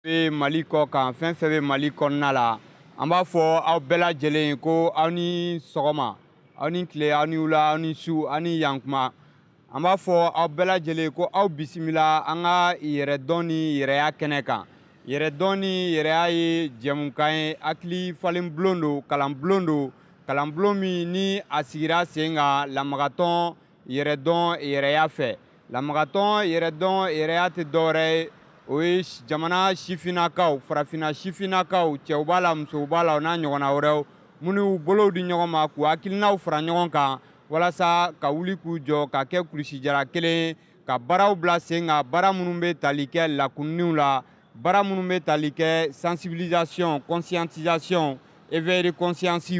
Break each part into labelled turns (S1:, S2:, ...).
S1: bɛ mali kɔ kan fɛn fɛn bɛ mali kɔnɔna la an b'a fɔ aw bɛɛ lajɛlen ko aw ni sɔgɔma aw ni tile aw ni wula aw ni su aw ni yankuma an b'a fɔ aw bɛɛ lajɛlen ko aw bisimila an ka yɛrɛdɔn ni yɛrɛya kɛnɛ kan yɛrɛdɔn ni yɛrɛya ye jɛmukan ye hakili falen bulon don kalan bulon don kalan bulon min ni a sigira sen kan lamagatɔn yɛrɛdɔn yɛrɛya fɛ lamagatɔn yɛrɛdɔn yɛrɛya tɛ dɔwɛrɛ ye o ye jamana sifinnakaw farafinna sifinnakaw cɛw b'a la musow b'a la o n'a ɲɔgɔnna wɛrɛw minnu bolow di ɲɔgɔn ma k'u hakilinaw fara ɲɔgɔn kan walasa ka wuli k'u jɔ ka kɛ kulusijara kelen ye ka baaraw bila sen kan baara minnu bɛ tali kɛ lakununniw la baara minnu bɛ tali kɛ sensibilisation conscientisation éveil de conscience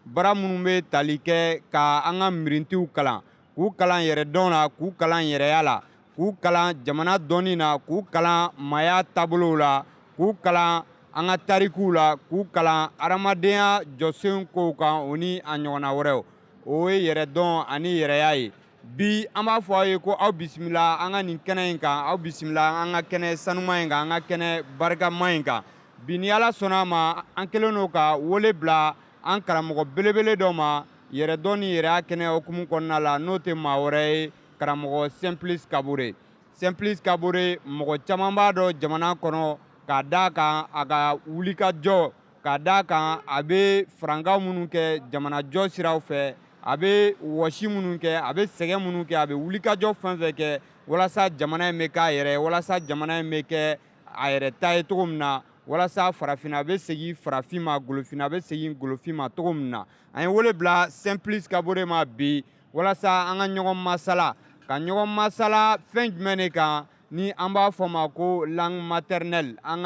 S1: baara minnu bɛ tali kɛ ka an ka mirintiw kalan k'u kalan yɛrɛ dɔn la k'u kalan yɛrɛya la k'u kalan jamana dɔnni na k'u kalan maaya taabolow la k'u kalan an ka tarikuw la k'u kalan adamadenya jɔsen kow kan o ni a ɲɔgɔnna wɛrɛw o ye yɛrɛ dɔn ani yɛrɛya ye bi an b'a fɔ aw ye ko aw bisimila an ka nin kɛnɛ in kan aw bisimila an ka kɛnɛ sanuman in kan an ka kɛnɛ barikama in kan bi ni ala sɔnna a ma an kɛlen don ka wele bila an karamɔgɔ belebele dɔ ma yɛrɛ dɔn ni yɛrɛya kɛnɛ hukumu kɔnɔna la n'o tɛ maa wɛrɛ ye karamɔgɔ Simplice Kabore Simplice Kabore mɔgɔ caman b'a dɔn jamana kɔnɔ k'a d'a kan a ka wulikajɔ K'a d'a kan a bɛ farankan minnu kɛ jamanajɔ siraw fɛ a bɛ wɔsi minnu kɛ a bɛ sɛgɛn minnu kɛ a bɛ wulikajɔ fɛn fɛn kɛ walasa jamana in bɛ k'a yɛrɛ walasa jamana in bɛ kɛ a yɛrɛ ta ye cogo min na walasa farafinna bɛ segin farafin ma golofinna bɛ segin golofin ma cogo min na an ye wele bila Simplice Kabore ma bi walasa an ka ɲɔgɔn masala ka ɲɔgɔn masala fɛn jumɛn de kan ni an b'a fɔ ma ko langue maternelle an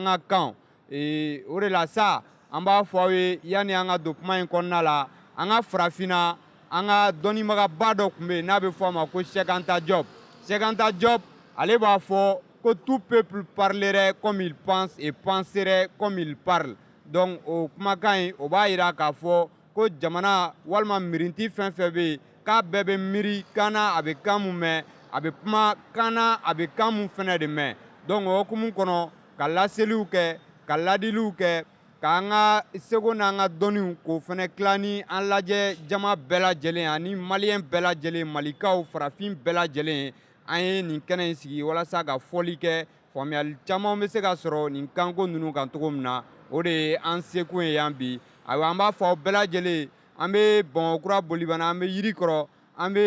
S1: ka kan ee o de la sa an b'a fɔ aw ye yanni an ka don kuma in kɔnɔna la an ka farafinna an ka dɔnnibagaba dɔ tun bɛ yen n'a bɛ fɔ a ma ko Cheikh Anta Diop Cheikh Anta Diop ale b'a fɔ ko tout peuple parlerait comme il pense et penserait comme il parle donc o kumakan in o b'a jira k'a fɔ ko jamana walima mirinti fɛn fɛn bɛ yen k'a bɛɛ bɛ miiri kan na a bɛ kan mun mɛn a bɛ kuma kan na a bɛ kan mun fɛnɛ de mɛn donc o hukumu kɔnɔ ka laseliw kɛ ka ladiliw kɛ k'an ka seko n'an ka dɔnniw k'o fɛnɛ tila ni an lajɛ jama bɛɛ lajɛlen ani maliyɛn bɛɛ lajɛlen malikaw farafin bɛɛ lajɛlen an ye nin kɛnɛ in sigi walasa ka fɔli kɛ Faamuyali caman bɛ se ka sɔrɔ nin kanko ninnu kan cogo min na o de ye an sekun ye yan bi ayiwa an b'a fɔ aw bɛɛ lajɛlen an bɛ bamakɔkura bolibana an bɛ yiri kɔrɔ an bɛ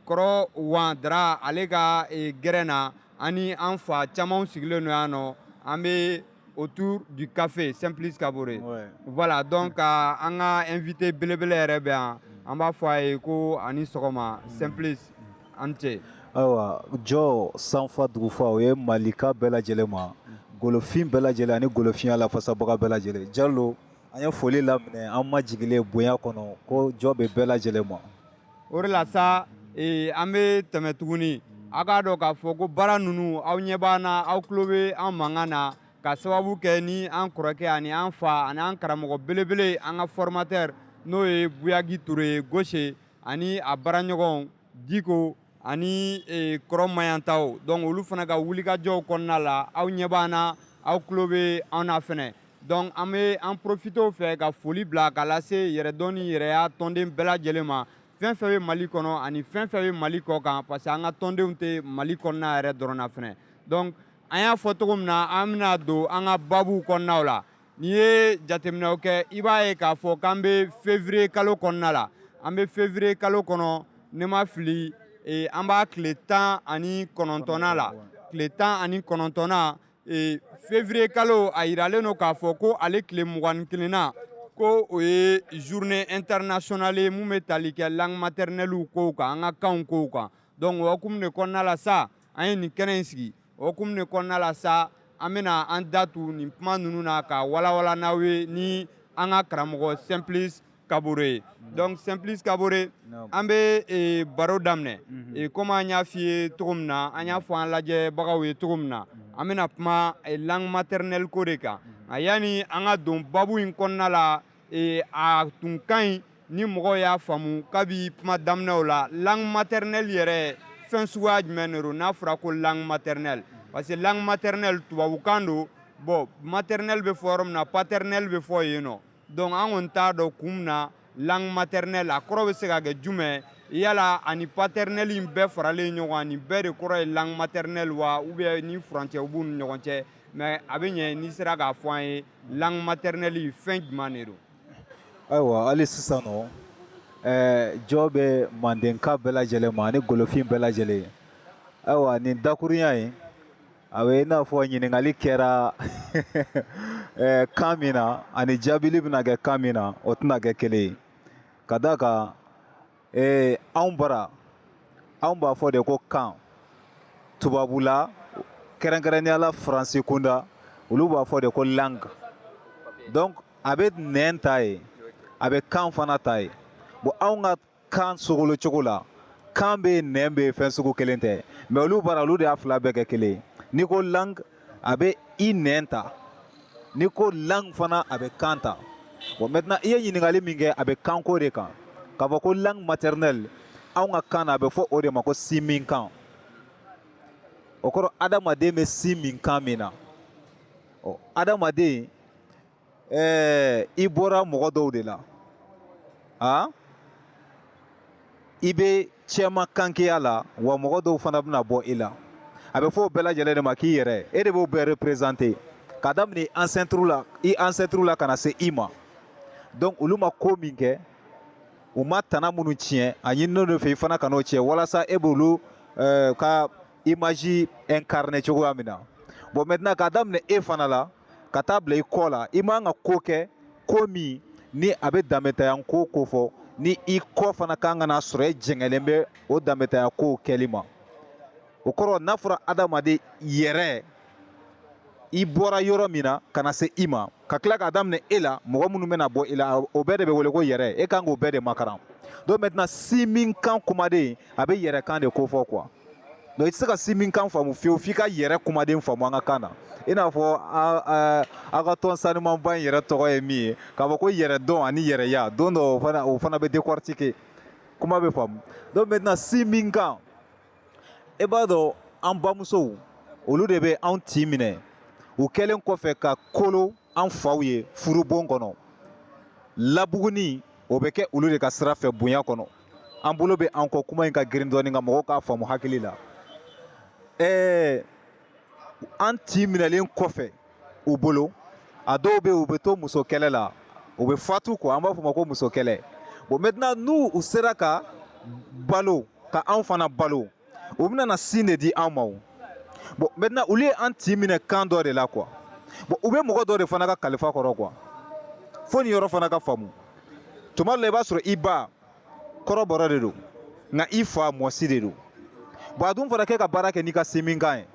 S1: kɔrɔ wan dara ale ka gɛrɛn na ani an fa camanw sigilen don yan nɔ an bɛ autour du café Simplice Kabore voilà donc ka an ka invité belebele yɛrɛ bɛ yan an b'a fɔ a ye ko a ni sɔgɔma Simplice an cɛ ayiwa
S2: jɔ sanfa dugufa o ye malika bɛɛ lajɛlen ma golofin bɛɛ lajɛlen ani golofinya lafasabaga bɛɛ lajɛlen jalo an ye foli laminɛ an majigilen bonya kɔnɔ ko jɔ bɛ bɛɛ lajɛlen ma o de la sa
S1: ee, an bɛ tɛmɛ tuguni aw k'a dɔn k'a fɔ ko baara ninnu aw ɲɛ b'an na aw tulo bɛ an mankan na ka sababu kɛ ni an kɔrɔkɛ ani an fa ani an karamɔgɔ belebele an ka formateur n'o ye buyagi ture ye goshe ani a baaraɲɔgɔnw diko ani e, kɔrɔ mayantaw donc olu fana ka wulikajɔw kɔnɔna la aw ɲɛ b'an na aw tulo bɛ an na fɛnɛ donc an bɛ an profiter o fɛ ka foli bila ka lase yɛrɛdɔn ni yɛrɛya tɔnden bɛɛ lajɛlen ma fɛn fɛn bɛ mali kɔnɔ ani fɛn fɛn bɛ mali kɔ kan parce que an ka tɔndenw tɛ mali kɔnɔna yɛrɛ dɔrɔn na fɛnɛ donc an y'a fɔ cogo min na an bɛna don an ka babuw kɔnɔnaw la n'i ye jateminɛw kɛ i b'a ye k'a fɔ k'an bɛ février kalo kɔnɔna la an bɛ février kalo kɔnɔ ne ma fili e, an b'a tile tan ani kɔnɔntɔnnan la tile tan ani kɔnɔntɔnnan e, février kalo a yiralen don k'a fɔ ko ale tile mugan ni kelennan ko o ye journée internationale ye min bɛ tali kɛ langue maternelle kow kan an ka kanw kow kan donc o hukumu de kɔnɔna la sa an ye nin kɛnɛ in sigi o hukumu de kɔnɔna la sa an bɛna an da tu nin kuma ninnu na ka walawala n'aw ye ni an ka karamɔgɔ Simplice Kabore ye donc Simplice Kabore an bɛ eh, baro daminɛ eh, komi an y'a f'i ye cogo min na an y'a fɔ an lajɛbagaw ye cogo min na an bɛna kuma eh, langue maternelle ko de kan a yanni an ka don babu in kɔnɔna la ee a tun ka ɲi ni mɔgɔw y'a faamu kabi kuma daminɛw la langue maternelle yɛrɛ fɛn suguya jumɛn de don n'a fɔra ko langue maternelle parce que langue maternelle tubabukan don bon maternelle bɛ fɔ yɔrɔ min na paternelle bɛ fɔ yen nɔ donc an kɔni t'a dɔn kun min na langue maternelle a kɔrɔ bɛ se ka kɛ jumɛn ye yala a ni paternelle in bɛɛ faralen ɲɔgɔn kan nin bɛɛ de kɔrɔ ye langue maternelle wa ou bien ni furancɛ b'u ni ɲɔgɔn cɛ mais a bɛ ɲɛ n'i sera k'a fɔ an ye langue maternelle fɛn jumɛn de don ayiwa
S2: hali sisan nɔ ɛɛ jɔ bɛ mandenka bɛɛ lajɛlen ma ani golofin bɛɛ lajɛlen ayiwa nin dakurunya in a bɛ i n'a fɔ ɲininkali kɛra ɛɛ kan min na ani jaabili bɛna kɛ kan min na o tɛna kɛ kelen ye ka d'a kan Ee anw bara anw b'a fɔ de ko kan tubabula kɛrɛnkɛrɛnnenya la faransi kunda olu b'a fɔ de ko langue donc a bɛ nɛn ta ye a bɛ kan fana ta ye bon anw ka kan sogolo cogo la kan bɛ yen nɛn bɛ yen fɛn sugu kelen tɛ mais olu bara olu de y'a fila bɛɛ kɛ kelen ye n'i ko langue a bɛ i nɛn ta n'i ko langue fana a bɛ kan ta bon maintenant i ye ɲininkali min kɛ a bɛ kanko de kan k'a fɔ ko langue maternelle anw ka kan na a bɛ fɔ o de ma ko sinminkan o kɔrɔ adamaden bɛ sin min kan min na ɔ adamaden ɛɛ i bɔra mɔgɔ dɔw de la a i bɛ cɛma kankeya la wa mɔgɔ dɔw fana bɛna bɔ i la a bɛ fɔ o bɛɛ lajɛlen de ma k'i yɛrɛ e de b'o bɛɛ représenter ka daminɛ i ancêtre la i ancêtre la ka na se i ma donc olu ma ko min kɛ u ma tana minnu tiɲɛ a ɲininen don e fɛ i fana kan'o tiɲɛ walasa e b'olu ka image incarner cogoya min na bon maintenant k'a daminɛ e fana la ka taa bila i kɔ la i man ka ko kɛ ko min ni a bɛ danbetanya ko kofɔ ni i kɔ fana kan ka na sɔrɔ e jɛngɛlen bɛ o danbetanya kow kɛli ma o kɔrɔ n'a fɔra adamaden yɛrɛ i bɔra yɔrɔ min na ka na se i ma ka tila k'a daminɛ e la mɔgɔ minnu bɛna bɔ i la o bɛɛ de bɛ wele ko yɛrɛ e kan k'o bɛɛ de makaran donc maintenant sinminkan kumaden a bɛ yɛrɛ kan de kofɔ quoi donc i tɛ se ka sinminkan faamu fiyewu f'i ka yɛrɛ kumaden faamu an ka kan na i n'a fɔ aw ka tɔn sanumanba in yɛrɛ tɔgɔ ye min ye k'a fɔ ko yɛrɛ dɔn ani yɛrɛya don dɔ o fana bɛ décortiquer kuma bɛ faamu donc maintenant sinminkan e b'a dɔn an bamusow olu de bɛ anw tin minɛ u kɛlen kɔfɛ ka kolo an faw ye furubon kɔnɔ labuguni o bɛ kɛ olu de ka sira fɛ bonya kɔnɔ an bolo bɛ an kɔ kuma in ka girin dɔɔnin ka mɔgɔw k'a faamu hakili la ɛɛ an tin minɛlen kɔfɛ u bolo a dɔw bɛ u bɛ to muso kɛlɛ la u bɛ fatu quoi an b'a fɔ o ma ko muso kɛlɛ bon maintenant n'u u sera ka balo ka anw fana balo u bɛna sin de di an ma o bon maintenant olu ye an tin minɛ kan dɔ de la quoi bon u bɛ mɔgɔ dɔ de fana ka kalifa kɔrɔ quoi fo nin yɔrɔ fana ka faamu tuma dɔ la i b'a sɔrɔ i ba kɔrɔbɔrɔ de don nka i fa mɔsi de don bon a dun fɔra k'e ka baara kɛ n'i ka sinminkan ye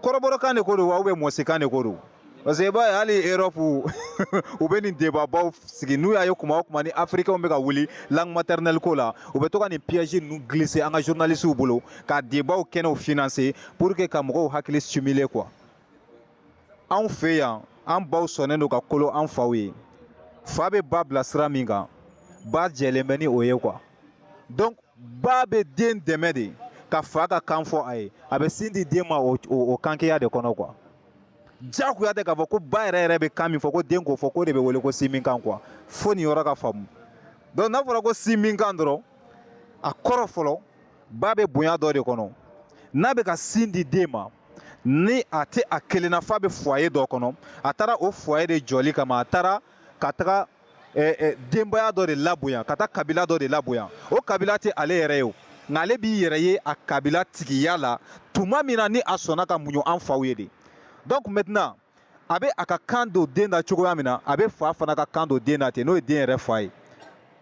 S2: kɔrɔbɔrɔkan de ko don wa ou bien mɔsikan de ko don parce que i b'a ye hali Europe u bɛ nin débatbaw sigi n'u y'a ye kuma o kuma ni africains bɛ ka wuli langue maternelle ko la u bɛ to ka nin piège ninnu glisser an ka journalistes bolo ka débat kɛnɛw financer pour que ka mɔgɔw hakili stimuler quoi anw fɛ yan an baw sɔnnen don ka kolo an faw ye fa bɛ ba bila sira min kan ba jɛlen bɛ ni o ye quoi donc ba bɛ den dɛmɛ de ka fa ka kan fɔ a ye a bɛ sin di den ma o kankeya de kɔnɔ quoi diyagoya tɛ k'a fɔ ko ba yɛrɛ yɛrɛ bɛ kan min fɔ ko den k'o fɔ k'o de bɛ wele ko sin min kan quoi fo nin yɔrɔ ka faamu donc n'a fɔra ko sin min kan dɔrɔn a kɔrɔ fɔlɔ ba bɛ bonya dɔ de kɔnɔ n'a bɛ ka sin di den ma ni a tɛ a kelenna f'a bɛ foyer dɔ kɔnɔ a taara o foyer de jɔli kama a taara ka taga eh, eh, denbaya dɔ de labonya ka taa kabila dɔ de labonya o kabila tɛ ale yɛrɛ ye o nka ale b'i yɛrɛ ye a kabila tigiya la tuma min na ni a sɔnna ka muɲu an faw ye de donc maintenant a bɛ a ka kan don den na cogoya min na a bɛ fa fana ka kan don den na ten n'o ye den yɛrɛ fa ye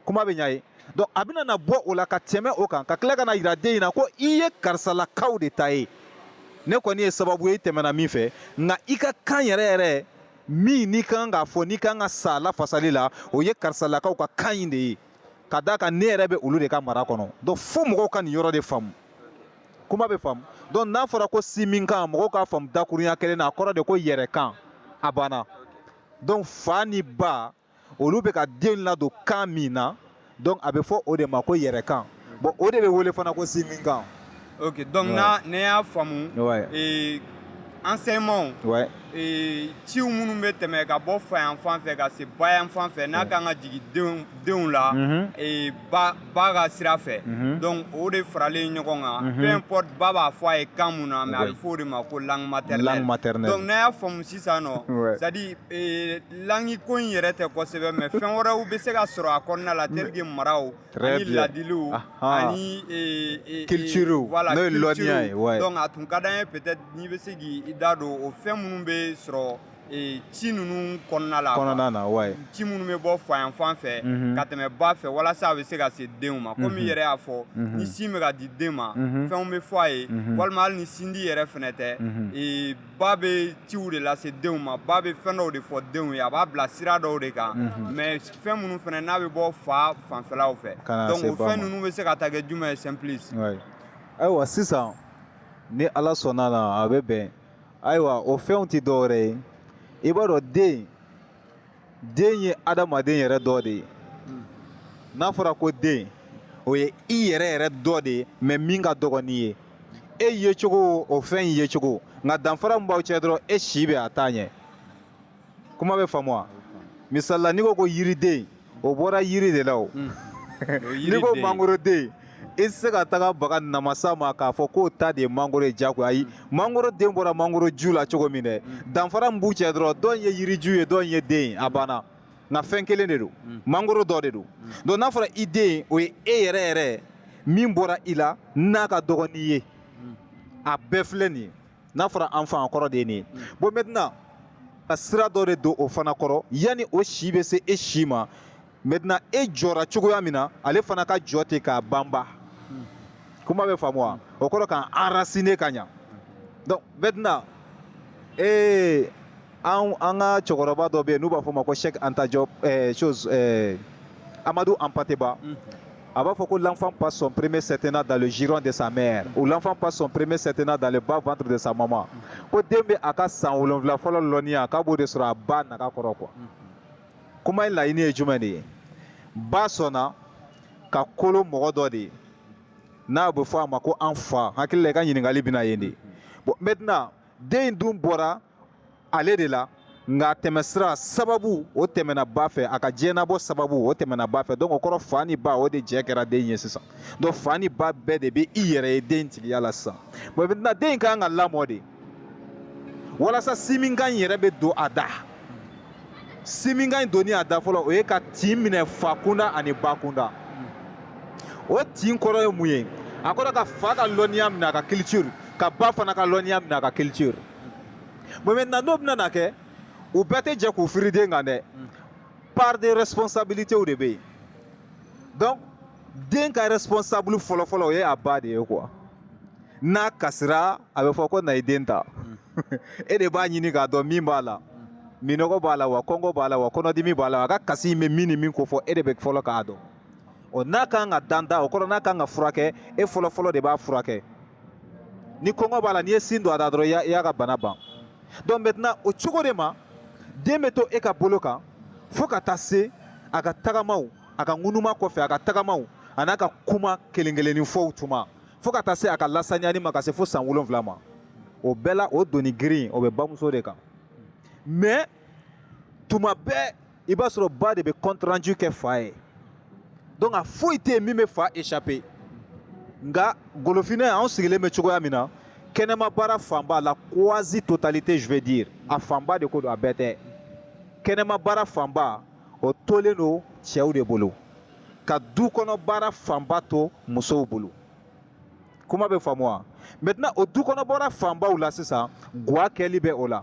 S2: kuma bɛ ɲa ye donc a bɛna na bɔ o la ka tɛmɛ o kan ka tila ka n'a yira den in na ko i ye karisalakaw de ta ye ne kɔni ye sababu ye i tɛmɛna min fɛ nka i ka kan yɛrɛ yɛrɛ min n'i ka kan k'a fɔ n'i ka kan ka s'a lafasali la o ye karisalakaw ka kan in de ye ka d'a kan ne yɛrɛ bɛ olu de ka mara kɔnɔ donc fo mɔgɔw ka nin yɔrɔ de faamu kuma bɛ faamu donc n'a fɔra ko sin min kan mɔgɔw k'a faamu dakurunya kelen na a kɔrɔ de ko yɛrɛ kan a banna donc fa ni ba olu bɛ ka den ladon kan min na donc a bɛ fɔ o de ma ko yɛrɛ kan bon o de bɛ wele fana ko sin min kan
S1: ok donc ouais. na ne y'a faamu
S2: ouais.
S1: et enseignement ouais. et ciw minnu bɛ tɛmɛ ka bɔ fa yan fan fɛ ka se ba yan fan fɛ n'a kan ka jigin denw denw la mm -hmm. et ba ba ka sira fɛ donc o de faralen ɲɔgɔn kan peu importe ba b'a fɔ a ye kan min na mais a bɛ fɔ o de ma ko langue maternelle donc ne y'a faamu sisan non c'est à dire langue ko in yɛrɛ tɛ kosɛbɛ mais fɛn wɛrɛw bɛ se ka sɔrɔ a kɔnɔna la tel que maraw ani ladiliw ani
S2: culture voilà n'o ye lɔnniya ye donc a tun ka d'an ye
S1: peut-être n'i bɛ se k'i da don o fɛn minnu bɛ sɔrɔ ee, ci ninnu kɔnɔna la kɔnɔna na ouais ci minnu bɛ bɔ fa yan fan fɛ Mhm. ka tɛmɛ ba fɛ walasa a bɛ se ka se denw ma komi i yɛrɛ y'a fɔ Mhm. ni sin bɛ ka di den ma Mhm. fɛnw bɛ fɔ a ye Mhm. walima hali ni sindi yɛrɛ fɛnɛ tɛ Mhm. ee, ba bɛ ciw de lase denw ma ba bɛ fɛn dɔw de fɔ denw ye a b'a bila sira dɔw de kan Mhm. mais fɛn minnu fɛnɛ n'a bɛ bɔ fa fanfɛlaw fɛ ka na se ba ma donc o fɛn ninnu bɛ se ka taa kɛ jumɛn ye simplice ouais ayiwa
S2: sisan ni ala sɔnna a la a bɛ bɛn ayiwa o fɛnw tɛ dɔwɛrɛ ye i b'a dɔn den den ye adamaden yɛrɛ dɔ de ye n'a fɔra ko den o ye i yɛrɛ yɛrɛ dɔ de ye mais min ka dɔgɔn n'i ye e yecogo o fɛn in yecogo nka danfara min b'aw cɛ dɔrɔn e si bɛ a ta ɲɛ kuma bɛ faamu wa misali la n'i ko ko yiriden o bɔra yiri de la o hmm. n'i ko mangoroden i tɛ se ka taga baga namasa ma k'a fɔ k'o ta de ye mangoro ye jagoya ayi mangoro den bɔra mangoro ju la cogo min dɛ hmm. danfara min b'u cɛ dɔrɔn dɔ in ye yiriju ye dɔ in ye den ye a banna nka fɛn kelen de don hmm. mangoro dɔ de don donc n'a fɔra i den o ye e yɛrɛ yɛrɛ min bɔra i la n'a ka dɔgɔn n'i ye a bɛɛ filɛ nin ye n'a fɔra enfant kɔrɔ de ye nin ye bon maintenant ka sira dɔ de don o fana kɔrɔ yanni o si bɛ se e si ma maintenant e jɔra cogoya min na ale fana ka jɔ ten k'a banba kuma bɛ faamu wa o kɔrɔ k'an enraciner ka ɲa donc maintenant ee an an ka cɛkɔrɔba dɔ bɛ yen n'u b'a fɔ o ma ko Cheikh Anta Diop ɛɛ chose ɛɛ Amadou Hampâté Bâ. A b'a fɔ ko l'enfant passe son premier septennat dans le giron de sa mère ou l'enfant passe son premier septennat dans le bas ventre de sa maman ko den bɛ a ka san wolonfila fɔlɔ lɔnniya k'a b'o de sɔrɔ a ba naga kɔrɔ quoi kuma in laɲini ye jumɛn de ye ba sɔnna ka kolo mɔgɔ dɔ de ye n'a bɛ fɔ a ma ko an fa hakili la i ka ɲininkali bɛna yen de bon maintenant den in dun bɔra ale de la nka a tɛmɛsira sababu o tɛmɛna ba fɛ a ka diɲɛnabɔ sababu o tɛmɛna ba fɛ donc o kɔrɔ fa ni ba o de jɛ kɛra den ye sisan donc fa ni ba bɛɛ de bɛ i yɛrɛ ye den tigiya la sisan bon maintenant den in ka kan ka lamɔ de walasa sinminkan in yɛrɛ bɛ don a da sinminkan in donni a da fɔlɔ o ye ka tin minɛ fa kunda ani ba kunda o tin kɔrɔ ye mun ye a kɔrɔ ka fa ka lɔnniya minɛ a ka culture ka ba fana ka lɔnniya minɛ a ka culture bon maintenant n'o bɛna na kɛ u bɛɛ tɛ jɛ k'u firi den kan dɛ part de responsabilité de bɛ yen donc den ka responsable fɔlɔfɔlɔ o ye a ba de ye quoi n'a kasira a bɛ fɔ ko na i den ta e de b'a ɲini k'a dɔn min b'a la minɔgɔ b'a la wa kɔngɔ b'a la wa kɔnɔdimi b'a la a ka kasi in bɛ min ni min kofɔ e de bɛ fɔlɔ k'a dɔn ɔ n'a ka kan ka danda o kɔrɔ n'a ka kan ka furakɛ e fɔlɔfɔlɔ de b'a furakɛ ni kɔngɔ b'a la n'i ye sin don a da dɔrɔn i y'a ka bana ban donc maintenant o cogo de ma den bɛ to e ka bolo kan fo ka taa se a ka tagamaw a ka ŋunuma kɔfɛ a ka tagamaw an'a ka kuma kelen kelennin fɔw tuma fo ka taa se a ka lasaniyani ma ka se fo san wolonfila ma o bɛɛ la o doni girin o bɛ bamuso de kan mais tuma bɛɛ i b'a sɔrɔ ba de bɛ compte rendu kɛ fa ye donc a foyi tɛ yen min bɛ fa échapper nka golofinɛ anw sigilen bɛ cogoya min na kɛnɛma baara fanba la quasi totalité je veux dire a fanba de ko don a bɛɛ tɛ kɛnɛma baara fanba o tolen don cɛw de bolo ka du kɔnɔ baara fanba to musow bolo kuma bɛ faamu wa maintenant o du kɔnɔ baara fanbaw la sisan gwa kɛli bɛ o la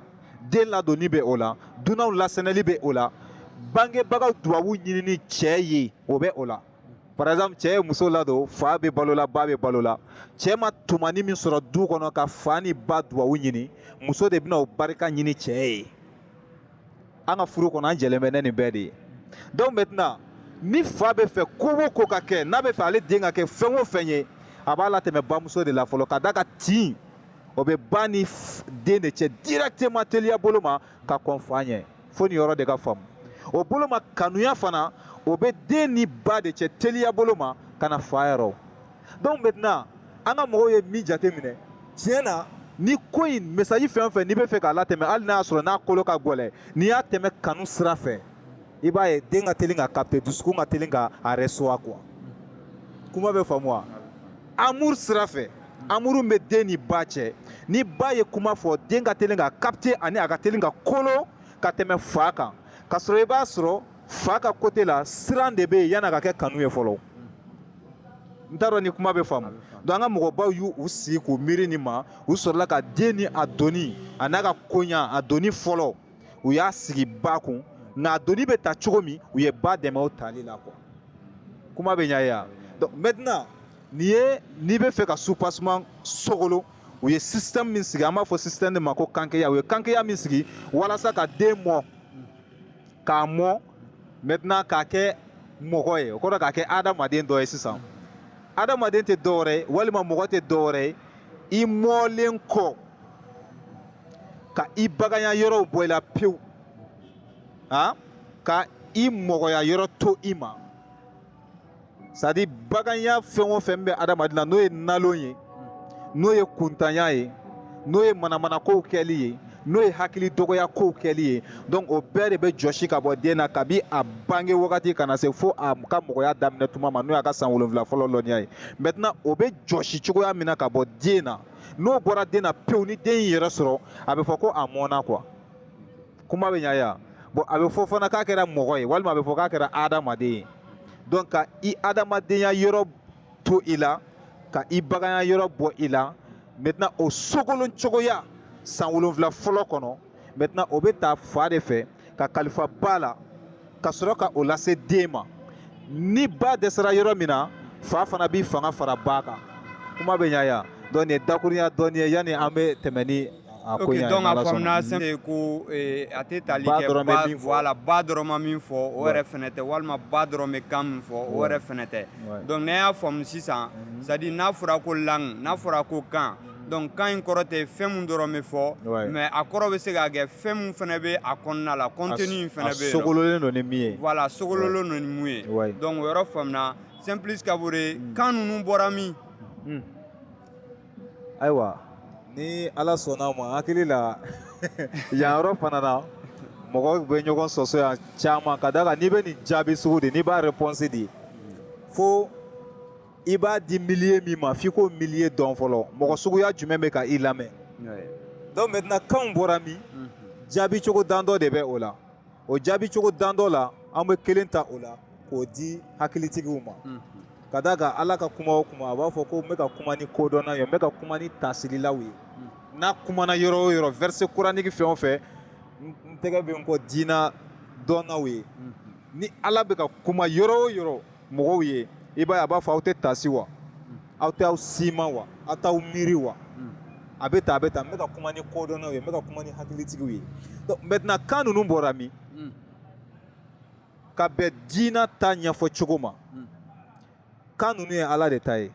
S2: den ladonni bɛ o la dunanw lasɛnɛli bɛ o la bangebagaw dubabu ɲinini cɛ ye o bɛ o la par exemple cɛ ye muso ladon fa bɛ balo la ba bɛ balo la cɛ ma tumani min sɔrɔ du kɔnɔ ka fa ni ba dubabu ɲini muso de bɛna o barika ɲini cɛ ye an ka furu kɔnɔ an jɛlen bɛ ni nin bɛɛ de ye donc maintenant ni fa bɛ fɛ ko o ko ka kɛ n'a bɛ fɛ ale den ka kɛ fɛn o fɛn ye a b'a latɛmɛ bamuso de la fɔlɔ ka d'a kan tin o bɛ ba ni den de cɛ directement teliya bolo ma ka kɔn fa ɲɛ fo nin yɔrɔ de ka faamu o bolo ma kanuya fana o bɛ den ni ba de cɛ teliya bolo ma ka na fa yɔrɔ donc maintenant an ka mɔgɔw ye min jate minɛ tiɲɛ na ni ko in message fɛn o fɛn n'i bɛ fɛ k'a latɛmɛ hali n'a y'a sɔrɔ n'a kolo ka gɛlɛn n'i y'a tɛmɛ kanu sira fɛ i b'a ye den ka teli ka capter dusukun ka teli ka a recevoir quoi kuma bɛ faamu wa amour sira fɛ amour bɛ den ni ba cɛ ni ba ye kuma fɔ den ka teli ka capter ani a ka teli ka kolo ka tɛmɛ fa kan ka sɔrɔ i b'a sɔrɔ fa ka côté la siran de bɛ yen yan'a ka kɛ kanu ye fɔlɔ n t'a dɔn ni kuma bɛ faamu donc an ka mɔgɔbaw y'u sigi k'u miiri nin ma u sɔrɔla ka den ni a doni a n'a ka koɲa a doni fɔlɔ u y'a sigi ba kun nka a doni bɛ ta cogo min u ye ba dɛmɛ o tali la quoi kuma bɛ ɲa ye wa donc maintenant nin ye n'i bɛ fɛ ka soubassement sogolon u ye système min sigi an b'a fɔ système de ma ko kankeya u ye kankeya min sigi walasa ka den mɔ k'a mɔ maintenant k'a kɛ mɔgɔ ye o kɔrɔ k'a kɛ adamaden dɔ ye sisan adamaden tɛ dɔwɛrɛ ye walima mɔgɔ tɛ dɔwɛrɛ ye i mɔlen kɔ ka i baganya yɔrɔw bɔ i la pewu ka i mɔgɔya yɔrɔ to i ma c'est-à-dire baganya fɛn o fɛn bɛ adamaden na n'o ye nalon ye n'o ye kuntanya ye n'o ye manamanakow kɛli ye n'o ye hakili dɔgɔya kow kɛli ye donc o bɛɛ de bɛ jɔsi ka bɔ den na kabi a bange wagati ka na se fo a ka mɔgɔya daminɛ tuma ma n'o y'a ka san wolonfila fɔlɔ lɔnniya ye maintenant o bɛ jɔsi cogoya min na ka bɔ den na n'o bɔra den na pewu ni den y'i yɛrɛ sɔrɔ a bɛ fɔ ko a mɔnna quoi kuma bɛ ɲa ye wa bon a bɛ fɔ fana k'a kɛra mɔgɔ ye walima a bɛ fɔ k'a kɛra adamaden ye donc ka i adamadenya yɔrɔ to i la ka i baganya yɔrɔ bɔ i la maintenant o sogolon cogoya san wolonfila fɔlɔ kɔnɔ maintenant o bɛ ta fa de fɛ ka kalifa ba la ka sɔrɔ ka o lase den ma ni ba dɛsɛra yɔrɔ min na fa fana b'i fanga fara ba kan kuma bɛ ɲa yan donc nin ye dakurunya dɔɔni ye yanni an bɛ tɛmɛ ni a ko ɲa ye donc a faamuna sɛn ye
S1: ko eh, a tɛ tali kɛ ba voilà ba dɔrɔn ma min fɔ o yɛrɛ fɛnɛ tɛ walima ba dɔrɔn bɛ kan min fɔ o yɛrɛ fɛnɛ tɛ donc ne y'a faamu sisan c'est à dire n'a fɔra ko langue n'a fɔra ko kan donc kan in kɔrɔ tɛ fɛn min dɔrɔn bɛ fɔ mais a kɔrɔ bɛ se ka kɛ fɛn min fɛnɛ bɛ a kɔnɔna la contenu in fɛnɛ bɛ yen a sogololen don ni min ye voilà
S2: sogololen don ni
S1: mun ye donc o yɔrɔ faamuna Simplice Kabore hmm. kan ninnu bɔra min hmm.
S2: ayiwa ni ala sɔnna ma hakili la yan yɔrɔ fana na mɔgɔ bɛ ɲɔgɔn sɔsɔ yan caman ka d'a kan n'i bɛ nin jaabi sugu di n'i b'a réponse di fo i b'a di milieu min ma f'i k'o milieu dɔn fɔlɔ mɔgɔ suguya jumɛn bɛ ka i lamɛn donc maintenant kanw bɔra min mhm. jaabi cogo dan dɔ de bɛ o la o jaabi cogo dan dɔ la an bɛ kelen ta o la k'o di hakilitigiw ma mhm. ka d'a kan ala ka kuma o kuma a b'a fɔ ko n bɛ ka kuma ni kodɔnna ye n bɛ ka kuma ni taasirilaw ye mhm. n'a kumana yɔrɔ o yɔrɔ verset coranique fɛn o fɛn n tɛgɛ bɛ n kɔ diina dɔnnaw ye ni ala bɛ ka kuma yɔrɔ o yɔrɔ mɔgɔw ye i b'a ye a b'a fɔ aw tɛ taasi wa aw tɛ aw sima wa aw t'aw miiri wa a bɛ taa a bɛ taa n bɛ ka kuma ni kodɔnnaw ye n bɛ ka kuma ni hakilitigiw ye donc maintenant kan ninnu bɔra min ka bɛn diina ta ɲɛfɔ cogo ma kan ninnu ye ala de ta ye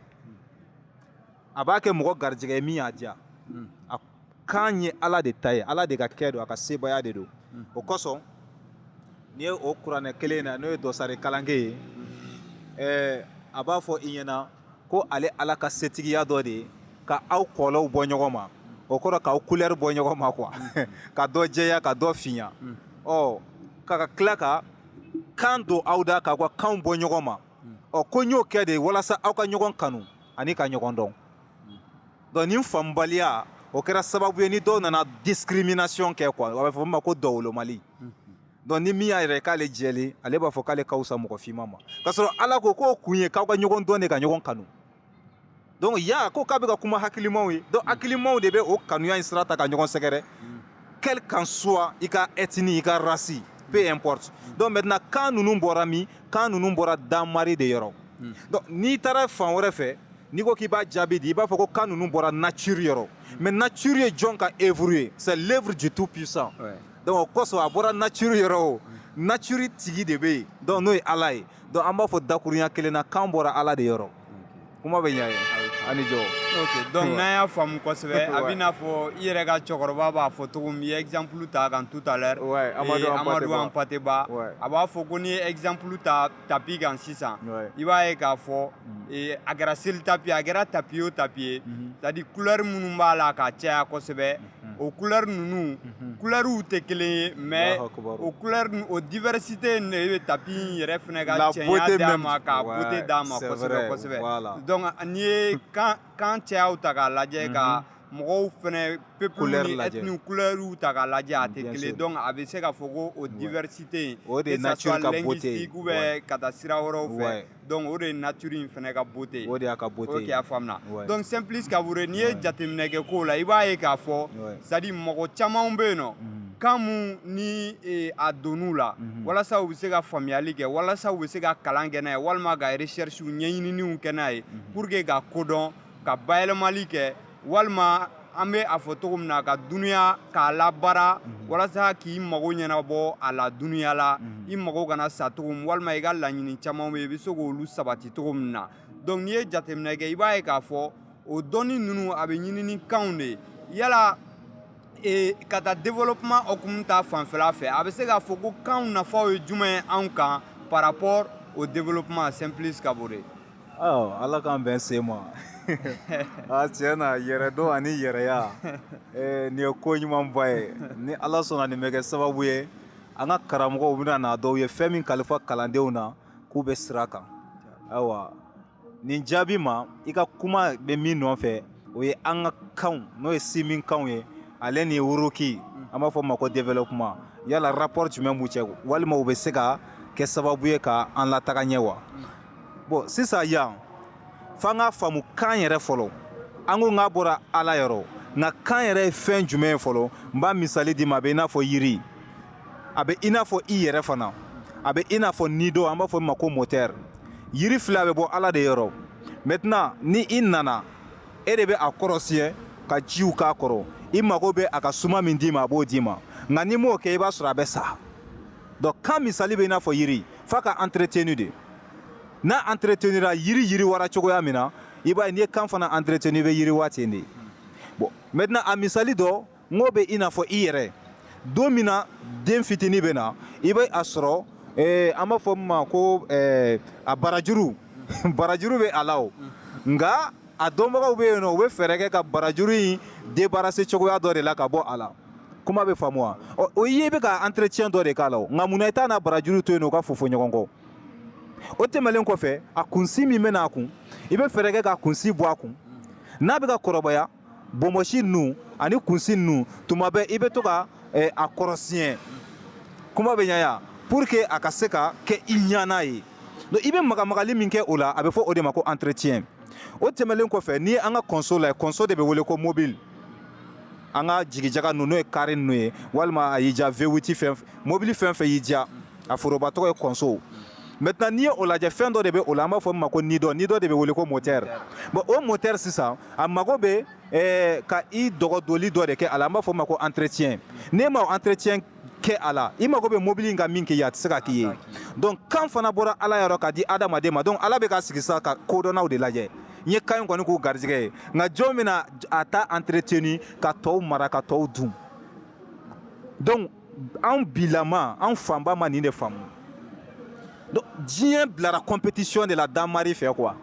S2: a b'a kɛ mɔgɔ garijɛgɛ ye min y'a diya a kan ye ala de ta ye ala de ka kɛ don a ka sebaaya de don hmm. o kosɔn n'i ye o kuranɛ kelen na n'o ye dɔsari kalanke ye hmm. eh, a b'a fɔ i ɲɛna ko ale ala ka setigiya dɔ de ye ka aw kɔlɔw bɔ ɲɔgɔn ma o kɔrɔ k'aw couleur bɔ ɲɔgɔn ma quoi hmm. ka dɔ jɛya ka dɔ fiɲa ɔ ka ka tila ka kan don aw da k'aw ka kanw bɔ ɲɔgɔn ma ɔ ko n y'o kɛ de walasa aw ka ɲɔgɔn kanu ani ka ɲɔgɔn dɔn donc nin faamubaliya o kɛra sababu ye ni dɔw nana discrimination kɛ quoi a bɛ fɔ min ma ko dɔwolomali donc ni min y'a yɛrɛ k'ale jɛlen ale b'a fɔ k'ale ka wusa mɔgɔ finman ma k'a sɔrɔ ala ko k'o kun ye k'aw ka ɲɔgɔn dɔn de ka ɲɔgɔn kanu donc ya ko k'a bɛ ka kuma hakilimaw ye donc hakilimaw de bɛ o kanuya in sira ta ka ɲɔgɔn sɛgɛrɛ quel qu'en soit i ka ethnie i ka race peu importe donc maintenant kan ninnu bɔra min kan ninnu bɔra danmari de yɔrɔ hmm. donc n'i taara fan wɛrɛ fɛ n'i ko k'i b'a jaabi di i b'a fɔ ko kan ninnu bɔra nature yɔrɔ hmm. mais nature ye jɔn ka œuvre ye c'est l'œuvre du tout puissant donc o kosɔn a bɔra nature yɔrɔ o hmm. nature tigi de bɛ yen donc n'o ye ala ye donc an b'a fɔ dakurunya kelen na kan bɔra ala de yɔrɔ kuma bɛ ɲɛ a ni jɔ donc
S1: n'an y'a faamu kosɛbɛ a bɛ n'a fɔ i yɛrɛ ka cɛkɔrɔba b'a fɔ cogo min i ye exemple ta kan tout à l'heure Amadou Hampâté Bâ a b'a fɔ ko n'i ye exemple ta tapi kan sisan i b'a ye k'a fɔ mm. a kɛra seli tapi ye a kɛra tapi o tapi ye c'est à dire couleur minnu b'a la ka caya kosɛbɛ o couleur ninnu couleurs tɛ kelen ye mais o couleur o diversité in de bɛ tapis in yɛrɛ fɛnɛ ka cɛɲa d'a ma ka beauté d'a ma kosɛbɛ kosɛbɛ donc n'i ye kan cayaw ta k'a lajɛ ka mɔgɔw fɛnɛ peuple ni ethnie couleurs ta k'a lajɛ a tɛ kelen donc a bɛ se ka fɔ ko o diversité in o de ye nature ka
S2: beauté ye que ça soit linguistique ou bien ka taa
S1: sira wɛrɛw fɛ donc o de ye nature in fɛnɛ ka beauté ye o de y'a ka beauté ye ok
S2: a faamuna
S1: donc Simplice Kaboré n'i ye jateminɛ kɛ kow la i b'a ye k'a fɔ c'est à dire mɔgɔ camanw bɛ yen nɔ kan mun ni e, a donn'u la mhm. walasa u bɛ se ka faamuyali kɛ walasa u bɛ se ka kalan kɛ n'a ye walima ka recherche ɲɛɲininiw kɛ n'a ye mhm. pour que ka ko dɔn ka bayɛlɛmali kɛ walima an bɛ a fɔ cogo min na ka dunuya k'a labaara mhm. walasa k'i mago ɲɛnabɔ a la dunuya la mhm. i mago kana sa cogo min walima i ka laɲini caman bɛ yen i bɛ se k'olu sabati cogo min na donc n'i ye jateminɛ kɛ i b'a ye k'a fɔ o dɔnni ninnu a bɛ ɲini ni kanw de ye yala e, ka taa développement hukumu ta fanfɛla fɛ a bɛ se k'a fɔ ko kanw nafaw ye jumɛn ye anw kan par rapport au développement Simplice Kaboré
S2: ala k'an bɛn se ma a tiɲɛ na yɛrɛdɔn ani yɛrɛya nin ye ko ɲumanba ye ni ala sɔnna nin bɛ kɛ sababu ye an ka karamɔgɔw bɛ na n'a dɔw ye fɛn min kalifa kalandenw na k'u bɛ sira kan ayiwa nin jaabi ma i ka kuma bɛ min nɔfɛ o ye an ka kanw n'o ye sinminkanw ye ale ni wuruki an b'a fɔ ma ko développement yala rapport jumɛn b'u cɛ walima u bɛ se ka kɛ sababu ye ka an lataga ɲɛ wa bon sisan yan f'an k'a faamu kan yɛrɛ fɔlɔ an ko k'a bɔra ala yɔrɔ nka kan yɛrɛ ye fɛn jumɛn ye fɔlɔ n b'a misali d'i ma a bɛ i n'a fɔ yiri a bɛ i n'a fɔ i yɛrɛ fana a bɛ i n'a fɔ nido an b'a fɔ min ma ko moteur yiri filɛ bɛ bɔ ala de yɔrɔ maintenant ni i nana e de bɛ a kɔrɔsi yen ka jiw k'a kɔrɔ i mago bɛ a ka suma min d'i ma a b'o d'i ma nka n'i m'o kɛ i b'a sɔrɔ a bɛ sa donc kan misali bɛ i n'a fɔ yiri f'a ka entretenu de n'a entretenira yiri yiriwara cogoya min na i b'a ye n'i ye kan fana entretenu i bɛ yiriwa ten de bon maintenant a misali dɔ n k'o bɛ i n'a fɔ i yɛrɛ don min na den fitini bɛ na i bɛ a sɔrɔ eh, an b'a fɔ min ma ko eh, a barajuru barajuru bɛ a la o nka a dɔnbagaw bɛ yen nɔ u bɛ fɛɛrɛ kɛ ka barajuru in débarrasser cogoya dɔ de la ka bɔ a la kuma bɛ faamu wa ɔ o ye i bɛ ka entretien dɔ de k'a la o nka munna i t'a n'a barajuru to yen nɔ u ka fofo ɲɔgɔn kɔ o tɛmɛlen kɔfɛ a kunsi min bɛ n'a kun i bɛ fɛɛrɛ kɛ k'a kunsi bɔ a kun n'a bɛ ka kɔrɔbaya bonbonsi ninnu ani kunsi ninnu tuma bɛɛ i bɛ to ka eh, a kɔrɔsiyɛn kuma bɛ ɲa ya pour que a ka se ka kɛ i ɲana ye donc i bɛ magamagali min kɛ o la a bɛ fɔ o de ma ko entretien o tɛmɛlen kɔfɛ ni an ka kɔnso la kɔnso de bɛ wele ko mobili an ka jigijaga ninnu n'o ye kari ninnu ye walima a y'i diya vewiti fɛn mobili fɛn fɛn y'i diya a foroba tɔgɔ ye kɔnso maintenant n'i ye o lajɛ fɛn dɔ de bɛ o la an b'a fɔ min ma ko nidɔ nidɔ de bɛ wele ko motɛri bon o motɛri sisan a mago bɛ eh, ka i dɔgɔdoli dɔ de kɛ a la an b'a fɔ min ma ko entretien n'e ma o entretien kɛ a la i mago bɛ mobili in ka min k'i ye a tɛ se ka k'i ye donc kan fana bɔra ala yɔrɔ k'a di adamaden ma donc ala bɛ ka sigi sa ka kodɔnnaw de lajɛ n ye kan in kɔni k'u garijɛgɛ ye nka jɔn bɛna a ta entretenu ka tɔw mara ka tɔw dun donc anw bilama anw fanba ma nin de faamu Donc diɲɛ bilara compétition de la Danmari fɛ quoi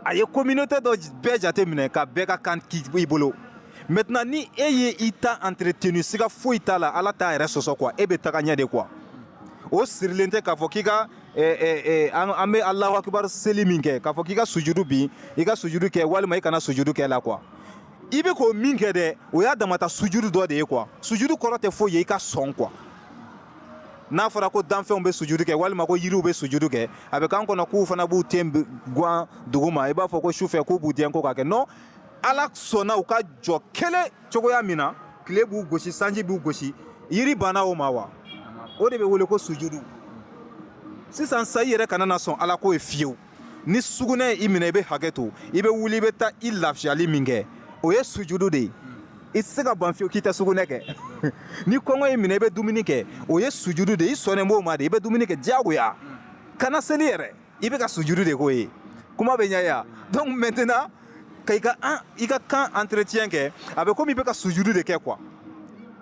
S2: a ye communauté dɔ bɛɛ jate minɛ ka bɛɛ ka kan k'i bolo maintenant ni e ye i ta entretenu siga foyi t'a la ala t'a yɛrɛ sɔsɔ quoi e bɛ taga ɲɛ de quoi o sirilen tɛ k'a fɔ k'i ka eh, eh, eh, an an bɛ alahu akibaru seli min kɛ k'a fɔ k'i ka sujudu bin i ka sujudu kɛ walima i kana sujudu kɛ la quoi i bɛ ko min kɛ dɛ o y'a damata sujudu dɔ de ye quoi sujudu kɔrɔ tɛ foyi ye i ka sɔn quoi n'a fɔra ko danfɛnw bɛ sujudu kɛ walima ko yiriw bɛ sujudu kɛ a bɛ k'an kɔnɔ k'u fana b'u ten gwan dugu ma i b'a fɔ ko sufɛ k'u b'u dɛn ko k'a kɛ non ala sɔnna u ka jɔ kelen cogoya min na tile b'u gosi sanji b'u gosi yiri banna o ma wa o de bɛ wele ko sujudu sisan sa i yɛrɛ kana na sɔn ala ko ye fiyewu ni sugunɛ ye i minɛ i bɛ hakɛto i bɛ wuli i bɛ taa i lafiyali min kɛ o ye sujudu de ye i tɛ se ka ban fiyewu k'i tɛ sugunɛ kɛ ni kɔngɔ y'i minɛ i bɛ dumuni kɛ o ye sujudu de ye i sɔnnen b'o ma de i bɛ dumuni kɛ diyagoya kana seli yɛrɛ i bɛ ka sujudu de k'o ye kuma bɛ ɲɛ ya donc maintenant ka i ka an i ka kan entretien kɛ a bɛ komi i bɛ ka sujudu de kɛ quoi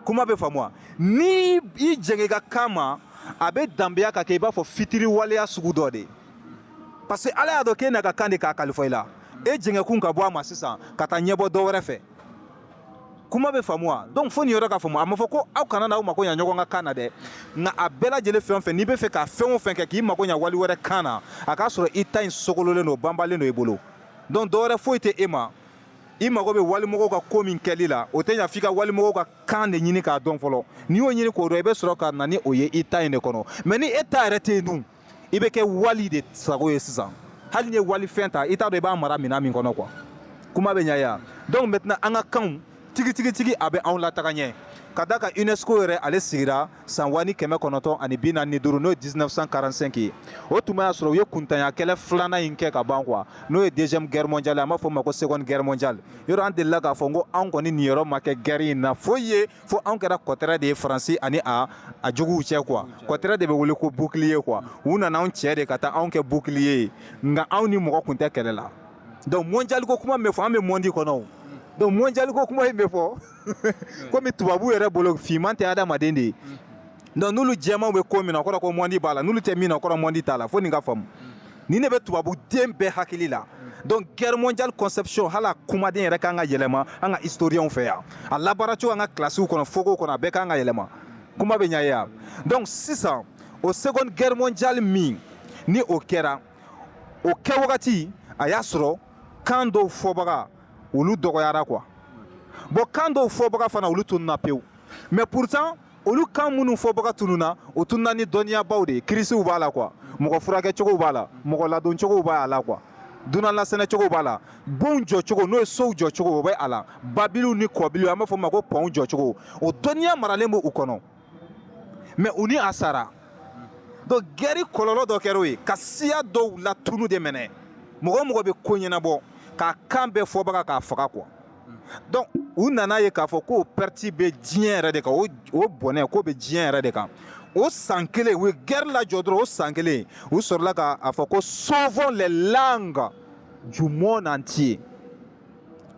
S2: kuma bɛ faamu wa ni i jɛngɛ i ka kan ma a bɛ danbeya ka kɛ i b'a fɔ fitiriwaleya sugu dɔ de ye parce que ala y'a dɔn k'e n'a ka kan de k'a kalifa i la e jɛngɛkun ka bɔ a ma sisan ka taa ɲɛbɔ dɔ wɛrɛ fɛ kuma bɛ faamu wa donc fo nin yɔrɔ ka faamu a ma fɔ ko aw kana n'aw mako ɲa ɲɔgɔn ka kan na dɛ nka a bɛɛ lajɛlen fɛn o fɛn n'i bɛ fɛ ka fɛn o fɛn kɛ k'i mako ɲa wali wɛrɛ kan na a k'a sɔrɔ i ta in sogololen don banbalen don i bolo donc dɔ wɛrɛ foyi tɛ e ma i mago bɛ walimɔgɔw ka ko min kɛli la o tɛ ɲa f'i ka walimɔgɔw ka kan de ɲini k'a dɔn fɔlɔ n'i y'o ɲini k'o dɔn i bɛ sɔrɔ ka na ni o ye i ta in de kɔnɔ mais ni e ta yɛrɛ tɛ yen dun i bɛ kɛ wali de sago ye sisan hali n'i ye wali fɛn ta i t'a dɔn i b'a mara minɛn min kɔnɔ quoi kuma bɛ ɲa ye wa donc maintenant an ka kanw tigitigitigi a bɛ anw lataga ɲɛ ka d'a kan unesco yɛrɛ ale sigira san wa ni kɛmɛ kɔnɔntɔn ani bi naani ni duuru n'o ye 1945 ye o tuma y'a sɔrɔ u ye kuntanya kɛlɛ filanan in kɛ ka ban quoi n'o ye deuxième guerre mondiale an b'a fɔ o ma ko seconde guerre mondiale yɔrɔ an delila k'a fɔ ko anw kɔni niyɔrɔ ma kɛ guerre in na foyi ye fo anw kɛra kɔtɛrɛ de ye faransi ani a juguw cɛ quoi kɔtɛrɛ de bɛ wele ko bouclier quoi u nana anw cɛ de ka taa anw kɛ bouclier ye nka anw ni mɔgɔ kun tɛ kɛlɛ la donc mondial ko kuma min bɛ fɔ an bɛ mondi kɔnɔ o donc mondial ko kuma in bɛ fɔ komi tubabu yɛrɛ bolo finman tɛ adamaden de ye donc n'olu jɛmanw bɛ ko min na o kɔrɔ ko mondi b'a la n'olu tɛ min na o kɔrɔ mondi t'a la fo nin ka faamu nin de bɛ tubabuden bɛɛ hakili la donc guerre mondiale conception hali a kumaden yɛrɛ kan ka yɛlɛma an ka historienw fɛ yan a labaaracogo an ka kilasiw kɔnɔ fogow kɔnɔ a bɛɛ kan ka yɛlɛma kuma bɛ ɲa ye wa donc sisan o seconde guerre mondiale min ni o kɛra o kɛ wagati a y'a sɔrɔ kan dɔw fɔbaga olu dɔgɔyara quoi bon kan dɔw fɔbaga fana olu tununa pewu mais pourtant olu kan minnu fɔbaga tununna o tununna ni dɔnniyabaw de ye kirisiw b'a la quoi mɔgɔ furakɛcogow b'a la mɔgɔ ladoncogow b'a la quoi dunan lasɛnɛcogow b'a la bonw jɔcogo n'o ye sow jɔcogo o bɛ a la babiliw ni kɔbiliw an b'a fɔ o ma ko pɔnw jɔcogo o dɔnniya maralen b'u kɔnɔ mais u ni a sara donc guerre kɔlɔlɔ dɔ kɛra o ye ka siya dɔw latunu de minɛ mɔgɔ o mɔgɔ bɛ ko ɲɛnabɔ k'a kan bɛɛ fɔbaga k'a faga quoi donc u nana ye k'a fɔ k'o perte bɛ diɲɛ yɛrɛ de kan o bɔnɛ k'o bɛ diɲɛ yɛrɛ de kan o san kelen u ye guerre lajɔ dɔrɔn o san kelen u sɔrɔla k'a fɔ ko sauvons les langues du monde entier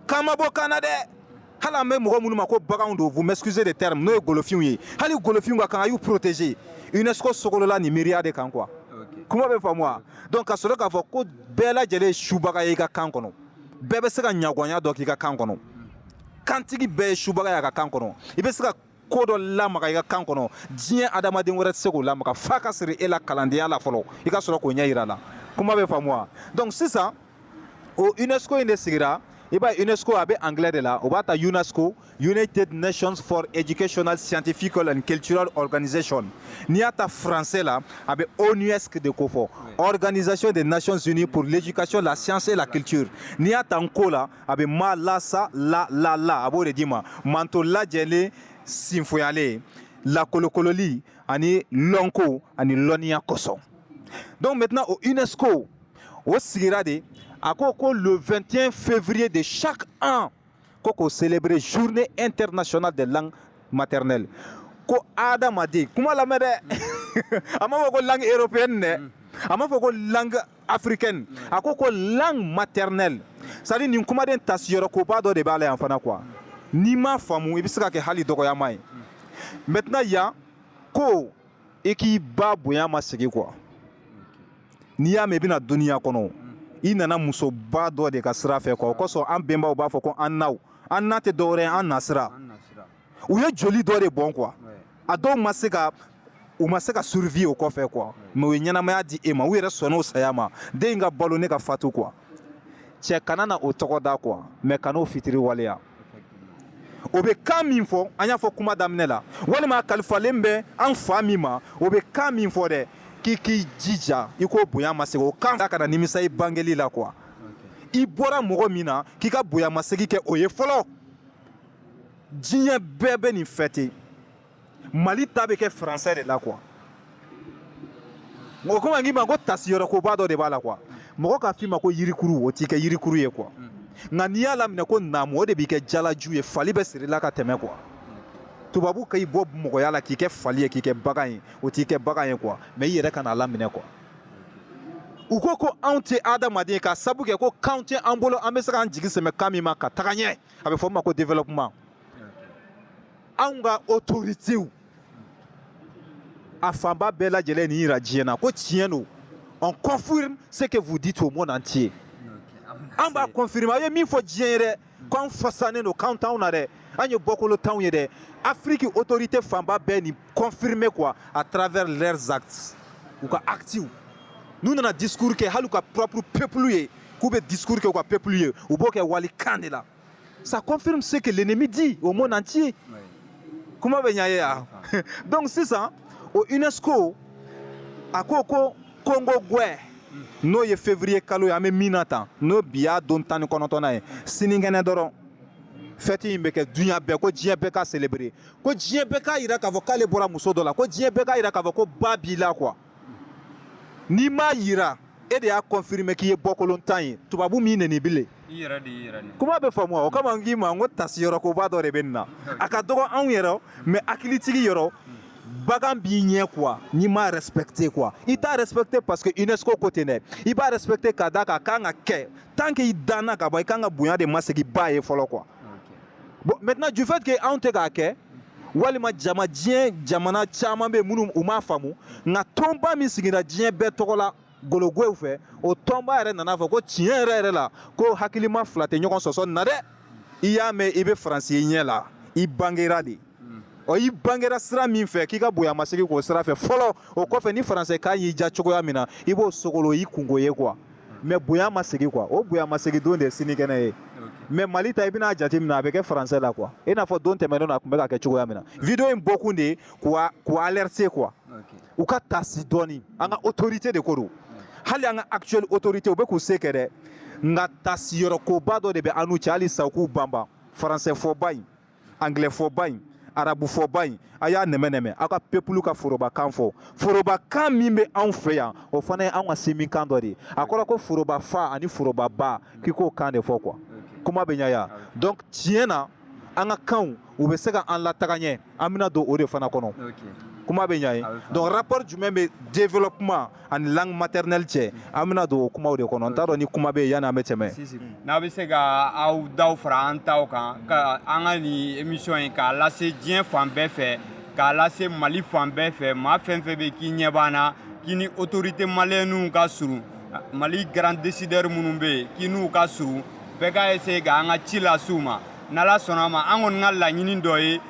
S2: kan ma bɔ kan na dɛ hali an bɛ mɔgɔ minnu ma ko baganw don vous m'excusez de terme n'o ye golofinw ye hali golofinw ka kan a y'u protéger UNESCO sogolola nin miiriya de kan quoi kuma bɛ faamu wa donc ka sɔrɔ k'a fɔ ko bɛɛ lajɛlen ye subaga ye i ka kan kɔnɔ bɛɛ bɛ se ka ɲagɔnya dɔ k'i ka kan kɔnɔ kantigi bɛɛ ye subaga y'a ka kan kɔnɔ i bɛ se ka ko dɔ lamaga i ka kan kɔnɔ diɲɛ adamaden wɛrɛ tɛ se k'o lamaga f'a ka siri e la kalandenya la fɔlɔ i ka sɔrɔ k'o ɲɛ yira a la kuma bɛ faamu wa donc sisan o unesco in de sigira i b'a ye unesco a bɛ anglais de la o b'a ta unesco United Nations for Educational, Scientifical and Cultural Organization n'i y'a ta français la a bɛ ONUSC de kɔfɔ Organisation des Nations Unies pour l'éducation, la science et la culture n'i y'a ta nko la a bɛ ma la sa la la la a b'o de d'i ma manton lajɛlen sinfoyalen lakolokololi ani lɔnko ani lɔnniya kosɔn donc maintenant o UNESCO o sigira de a ko ko le 21 février de chaque an ko k'o célébrer journée internationale des langues maternelles ko adamaden kuma lamɛn dɛ a ma fɔ ko langue européenne dɛ a ma fɔ ko langue africaine a ko ko langue maternelle c'est à dire nin kumaden tasiyɔrɔ koba dɔ de b'a la yan fana quoi n'i m'a faamu i bɛ se ka kɛ hali dɔgɔyama ye maintenant yan ko i k'i ba bonya masegin quoi n'i y'a mɛn i bɛ na duniya kɔnɔ i nana musoba dɔ de ka sira fɛ quoi o kosɔn an bɛnbaw b'a fɔ ko an naw an na tɛ dɔwɛrɛ ye an nasira u ye joli dɔ de bɔn quoi a dɔw ma se ka u ma se ka survie o kɔfɛ quoi mais u ye ɲɛnamaya di e ma u yɛrɛ sɔnna o saya ma den in ka balo ne ka fatu quoi cɛ kana na o tɔgɔ da quoi mais kan'o fitiriwaleya o bɛ kan min fɔ an y'a fɔ kuma daminɛ la walima kalifalen bɛ an fa min ma o bɛ kan min fɔ dɛ k'i k'i jija i k'o bonya masegin o kan kana nimisa i bangeli la quoi i bɔra mɔgɔ min na k'i ka bonyamasegin kɛ o ye fɔlɔ diɲɛ bɛɛ bɛ nin fêter mali ta bɛ kɛ français de la quoi o kama n k'i ma ko tasiyɔrɔ koba dɔ de b'a la quoi mɔgɔ k'a f'i ma ko yirikuru o t'i kɛ yirikuru ye quoi nka n'i y'a laminɛ ko naamu o de b'i kɛ jalaju ye fali bɛ siri i la ka tɛmɛ quoi tubabu ka i bɔ mɔgɔya la k'i kɛ fali ye k'i kɛ bagan ye o t'i kɛ bagan ye quoi mais i yɛrɛ kan'a laminɛ quoi u ko ko anw tɛ adamaden k'a sabu kɛ ko kan tɛ an bolo an bɛ se k'an jigi sɛmɛ kan min ma ka taga ɲɛ a bɛ fɔ o ma ko développement anw ka autoritéw a fanba bɛɛ lajɛlen nin yira diɲɛ na ko tiɲɛ don on confirme ce que vous dites au monde entier an b'a confirmer a ye min fɔ diɲɛ ye dɛ k'anw fasanen don kan t'anw na dɛ an ye bɔkolontanw ye dɛ Afrique autorité fanba bɛɛ nin confirmer quoi à travers leurs actes u ka actiw n'u nana discours kɛ hali u ka propre peuple ye k'u bɛ discours kɛ u ka peuple ye u b'o kɛ walikan de la Ça confirme ce que l'ennemi dit au monde entier. kuma bɛ ɲa ye wa donc sisan o UNESCO a ko ko kongogwɛ n'o ye février kalo ye an bɛ min na tan n'o bi y'a don tan ni kɔnɔntɔnnan ye sininkɛnɛ dɔrɔn fête in bɛ kɛ duɲa bɛɛ ko diɲɛ bɛɛ k'a célébrer ko diɲɛ bɛɛ k'a yira k'a fɔ k'ale bɔra muso dɔ la ko diɲɛ bɛɛ k'a yira k'a fɔ ko ba b'i la quoi n'i m'a yira e de y'a confirmer k'i ye bɔkolontan ye tubabu m'i neni bilen i yɛrɛ de y'i yɛrɛ neni kuma bɛ faamu o kama n k'i ma n ko tasiyɔrɔ koba dɔ de bɛ nin na a ka dɔgɔ anw yɛrɛ mais hakilitigi yɔrɔ bagan b'i ɲɛ quoi n'i m'a respecter quoi i t'a respecter parce que UNESCO ko ten dɛ i b'a respecter ka d'a kan a kan ka kɛ tant que i danna ka ban i kan ka bonya de masegi ba ye fɔlɔ quoi bon maintenant du fait que anw tɛ k'a kɛ walima jama diɲɛ jamana caman bɛ yen minnu u m'a faamu nka tɔnba min sigira diɲɛ bɛɛ tɔgɔ la gologow fɛ o tɔnba yɛrɛ nana fɔ ko tiɲɛ yɛrɛ yɛrɛ la ko hakilima fila tɛ ɲɔgɔn sɔsɔ nin na dɛ i y'a mɛn i bɛ faransi ye ɲɛ la i bangera de ɔ i bangera sira min fɛ k'i ka bonya masegin k'o sira fɛ fɔlɔ o kɔfɛ ni faransɛ kan y'i ja cogoya min na i b'o sogolo i kungo ye quoi mais bonya masegin quoi o bonya masegin don de ye sinikɛnɛ ye mais mali ta i bɛna jate minɛ a bɛ kɛ faransɛ la quoi i n'a fɔ don tɛmɛnen na a tun bɛ ka kɛ cogoya min na video in bɔkun de ye k'u alerter quoi u ka taasi dɔɔni an ka autorité de ko don hali an ka actuel autorité u bɛ k'u se kɛ dɛ nka taasiyɔrɔ koba dɔ de bɛ an n'u cɛ hali sa u k'u banban faransɛ fɔba in anglais fɔba in arabu fɔba in a y'a nɛmɛnɛmɛ aw ka peuple ka forobakan fɔ forobakan min bɛ anw fɛ yan o fana ye anw ka sinminkan dɔ de ye a kɔrɔ ko foroba fa ani foroba ba k'i k'o kan de fɔ quoi kuma bɛ ɲa ye donc tiɲɛ na an ka kanw u bɛ se ka an lataga ɲɛ an bɛna don o de fana kɔnɔ kuma bɛ ɲa ye donc rapport jumɛn bɛ développement ani langue maternelle cɛ an bɛna don o kumaw de kɔnɔ n t'a dɔn ni kuma bɛ yen yanni an bɛ tɛmɛ n'a bɛ se
S1: ka aw daw fara an taw kan ka an ka nin émission in k'a lase diɲɛ fan bɛɛ fɛ k'a lase mali fan bɛɛ fɛ maa fɛn fɛn bɛ k'i ɲɛ b'an na k'i ni autorité maliyɛniw ka surun mali grand décideur minnu bɛ yen k'i n'u ka surun bɛɛ ka essayer ka an ka ci lase u ma n'ala sɔnna a ma an kɔni ka laɲini dɔ ye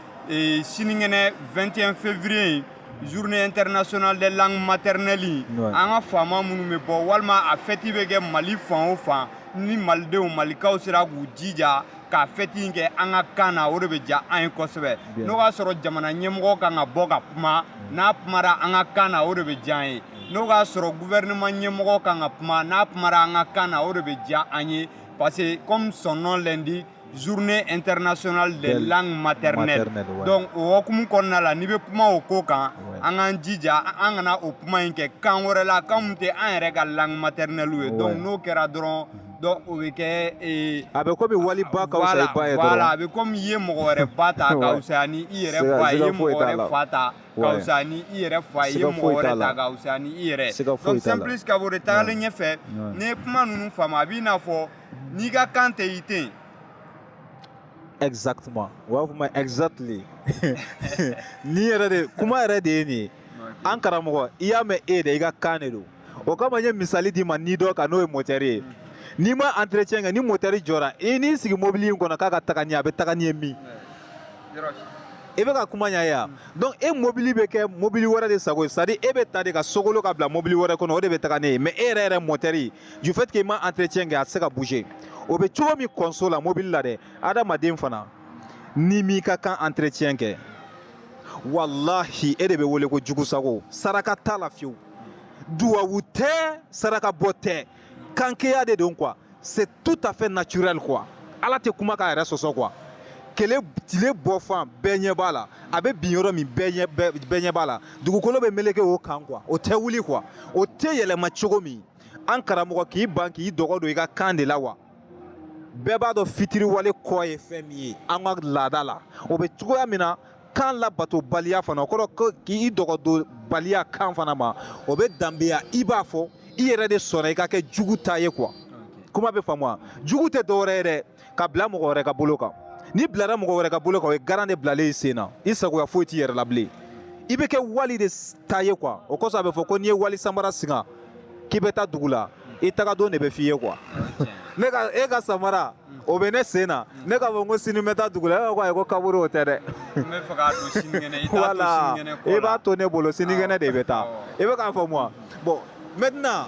S1: sinikɛnɛ 21 février in journée internationale des langues maternelles an ka faama minnu bɛ bɔ walima a fɛti bɛ kɛ mali fan o fan ni malidenw malikaw sera k'u jija k'a fɛti in kɛ an ka kan na o de bɛ diya an ye kosɛbɛ n'o y'a sɔrɔ jamana ɲɛmɔgɔ kan ka bɔ ka kuma n'a kumara an ka kan na o de bɛ diya an ye n'o y'a sɔrɔ gouvernement ɲɛmɔgɔ kan ka kuma n'a kumara an ka kan na o de bɛ diya an ye parce que comme son nom l'indique journée internationale des langues maternelles donc o hokumu kɔnɔna la n'i bɛ kuma o ko kan an k'an jija an kana o kuma in kɛ kan wɛrɛ la kan min tɛ an yɛrɛ ka langue maternelle ye donc n'o kɛra dɔrɔn donc o bɛ kɛ ee a bɛ komi
S2: wali ba ka wusa i ba ye dɔrɔn voilà a bɛ komi i ye
S1: mɔgɔ wɛrɛ ba ta ka wusa ni i yɛrɛ fa ye i ye mɔgɔ wɛrɛ fa ta ka wusa ni i yɛrɛ fa ye i ye mɔgɔ wɛrɛ ta ka wusa ni i yɛrɛ donc sans plus ka bɔ o de tagalen ɲɛfɛ n'i ye kuma ninnu faamu a b'i n'a fɔ N'i ka kan tɛ i tɛ
S2: yen. Exactement faama exactly nin yɛrɛ de kuma yɛrɛ de ye nin ye an karamɔgɔ i y'a mɛn e de i ka kan de don o kama n ye misali d'i ma ni dɔ kan n'o ye motɛri ye n'i ma entretien kɛ ni motɛri jɔra i n'i sigi mobili in kɔnɔ k'a ka taga n'i ye a bɛ taga n'i ye min i bɛ ka kuma ɲa ye donc e mobili bɛ kɛ mobili wɛrɛ de sago ye c'est à dire e bɛ ta de ka sogolo ka bila mobili wɛrɛ kɔnɔ o de bɛ taga n'e ye mais e yɛrɛ yɛrɛ motɛri du fait que i ma entretien kɛ a tɛ se ka bouger o bɛ cogo min kɔnso la mobili la dɛ adamaden fana n'i m'i ka kan entretien kɛ walahi e de bɛ wele ko jugu sago saraka t'a la fewu duwawu tɛ saraka bɔ tɛ kankeya de don quoi c'est tout à fait naturel quoi ala tɛ kuma k'a yɛrɛ sɔsɔ quoi kele tile bɔ fan bɛɛ ɲɛ b'a la a bɛ bin yɔrɔ min bɛɛ ɲɛ b'a la dugukolo bɛ meleke o kan quoi o tɛ wuli quoi o tɛ yɛlɛma cogo min an karamɔgɔ k'i ban k'i dɔgɔ don i ka kan de la wa bɛɛ b'a dɔn fitiriwale kɔ ye fɛn min ye an ka laada la o bɛ cogoya min na kan labatobaliya fana o kɔrɔ ko k'i dɔgɔdonbaliya kan fana ma o bɛ danbeya i b'a fɔ i yɛrɛ de sɔnna i ka kɛ jugu ta ye quoi kuma bɛ faamu wa jugu tɛ dɔwɛrɛ ye dɛ ka bila mɔgɔ wɛrɛ ka bolo kan n'i bilara mɔgɔ wɛrɛ ka bolo kan o ye garan de bilalen i sen na i sagoya foyi t'i yɛrɛ la bilen i bɛ kɛ wali de ta ye quoi o kosɔn a bɛ fɔ ko n'i ye wali samara singa k'i bɛ taa dugu la i tagadon de bɛ f'i ye quoi ne ka e ka samara o bɛ ne sen na ne k'a fɔ ko sini n bɛ taa dugu la e b'a fɔ ko ayi ko kaburu o tɛ dɛ voilà i b'a to ne bolo sinikɛnɛ de bɛ taa i bɛ k'a faamu wa bon maintenant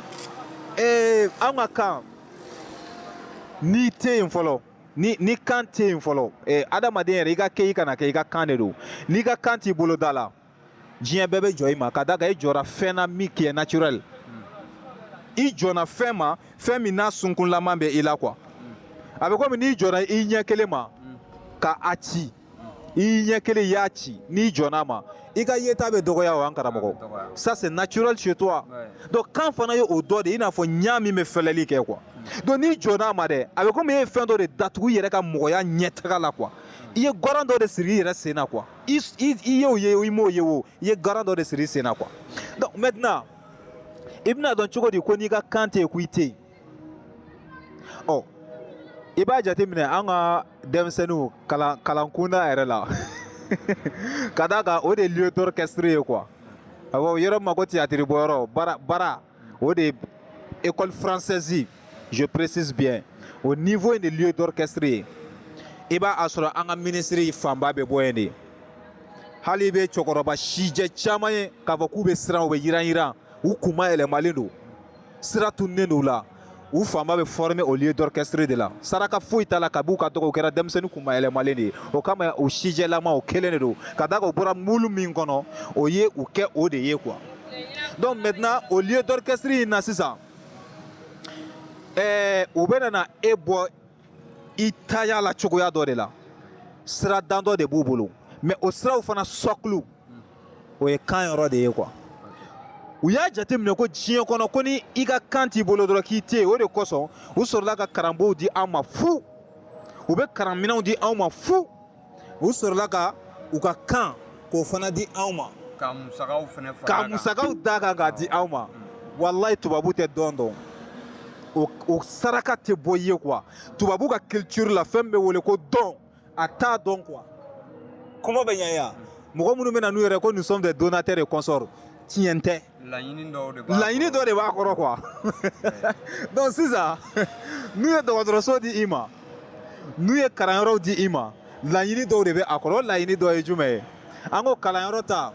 S2: ee an ka kan n'i tɛ yen fɔlɔ n'i kan tɛ yen fɔlɔ ɛ eh, adamaden yɛrɛ i ka kɛ i kana kɛ i ka kan de don n'i ka kan t'i bolo da la diɲɛ bɛɛ bɛ jɔn i ma ka d'a kan i jɔnna fɛn na min qui est naturel i jɔnna fɛn ma fɛn min n'a sunkunlaman bɛ i la quoi a bɛ komi n'i jɔnna i ɲɛ kelen ma ka a ci i ɲɛ kelen y'a ci n'i jɔnn'a ma i ka yeta bɛ dɔgɔya o an karamɔgɔ ça c'est naturel chez toi donc kan fana ye o dɔ de i n'a fɔ ɲa min bɛ fɛlɛli kɛ quoi donc n'i jɔnn'a ma dɛ a bɛ komi e ye fɛn dɔ de datugu i yɛrɛ ka mɔgɔya ɲɛtaga la quoi i ye garan dɔ de siri i yɛrɛ sen na quoi i y'o ye i m'o ye o i ye garan dɔ de siri i sen na quoi donc maintenant i bɛna dɔn cogo di ko n'i ka kan tɛ yen ko i tɛ yen ɔ i b'a jateminɛ an ka denmisɛnninw kalankunda yɛrɛ la ka d'a kan o de ye lieu d'orchestre ye quoi awɔ yɔrɔ min ma ko théâtre bɔyɔrɔ bara o de ye école française je précise bien o niveau in de lieu d'orchestre ye i b'a sɔrɔ an ka ministre fanba bɛ bɔ yen de hali i bɛ cɛkɔrɔba sijɛ caman ye k'a fɔ k'u bɛ siran u bɛ yiran yiran u kunma yɛlɛmalen don sira tununnen don u la u fanba bɛ former au lieu d'orchestre de la saraka foyi t'a la kabi u ka dɔgɔ u kɛra denmisɛnnin kunma yɛlɛmalen de ye o kama u sijɛlama o kelen de don ka d'a kan u bɔra mulu min kɔnɔ o ye u kɛ o de ye quoi donc maintenant au lieu d'orchestre in na sisan ɛɛ u bɛna e bɔ i taaya la cogoya dɔ de la sira dandɔ de b'u bolo mais o siraw fana sɔkulu o ye kan yɔrɔ de ye quoi u y'a jateminɛ ko diɲɛ kɔnɔ ko ni i ka kan t'i bolo dɔrɔn k'i tɛ yen o de kosɔn u sɔrɔla ka karamɔgɔw di an ma fu u bɛ karanminɛnw di anw ma fu u sɔrɔla ka u ka kan k'o fana di anw ma ka musakaw
S1: fana fara ka musakaw d'a
S2: kan k'a di anw ma walayi tubabu tɛ don dɔn o saraka tɛ bɔ i ye quoi tubabu ka culture la fɛn bɛ wele ko don a t'a dɔn quoi kuma bɛ ɲɛ yan mɔgɔ minnu bɛ na n'u yɛrɛ ko nous sommes des donateurs et consorts tiɲɛ tɛ laɲini dɔ de b'a kɔrɔ quoi donc sisan n'u ye dɔgɔtɔrɔso di i ma n'u ye kalanyɔrɔw di i ma laɲini dɔw de bɛ a kɔrɔ o laɲini dɔ ye jumɛn ye an ko kalanyɔrɔ ta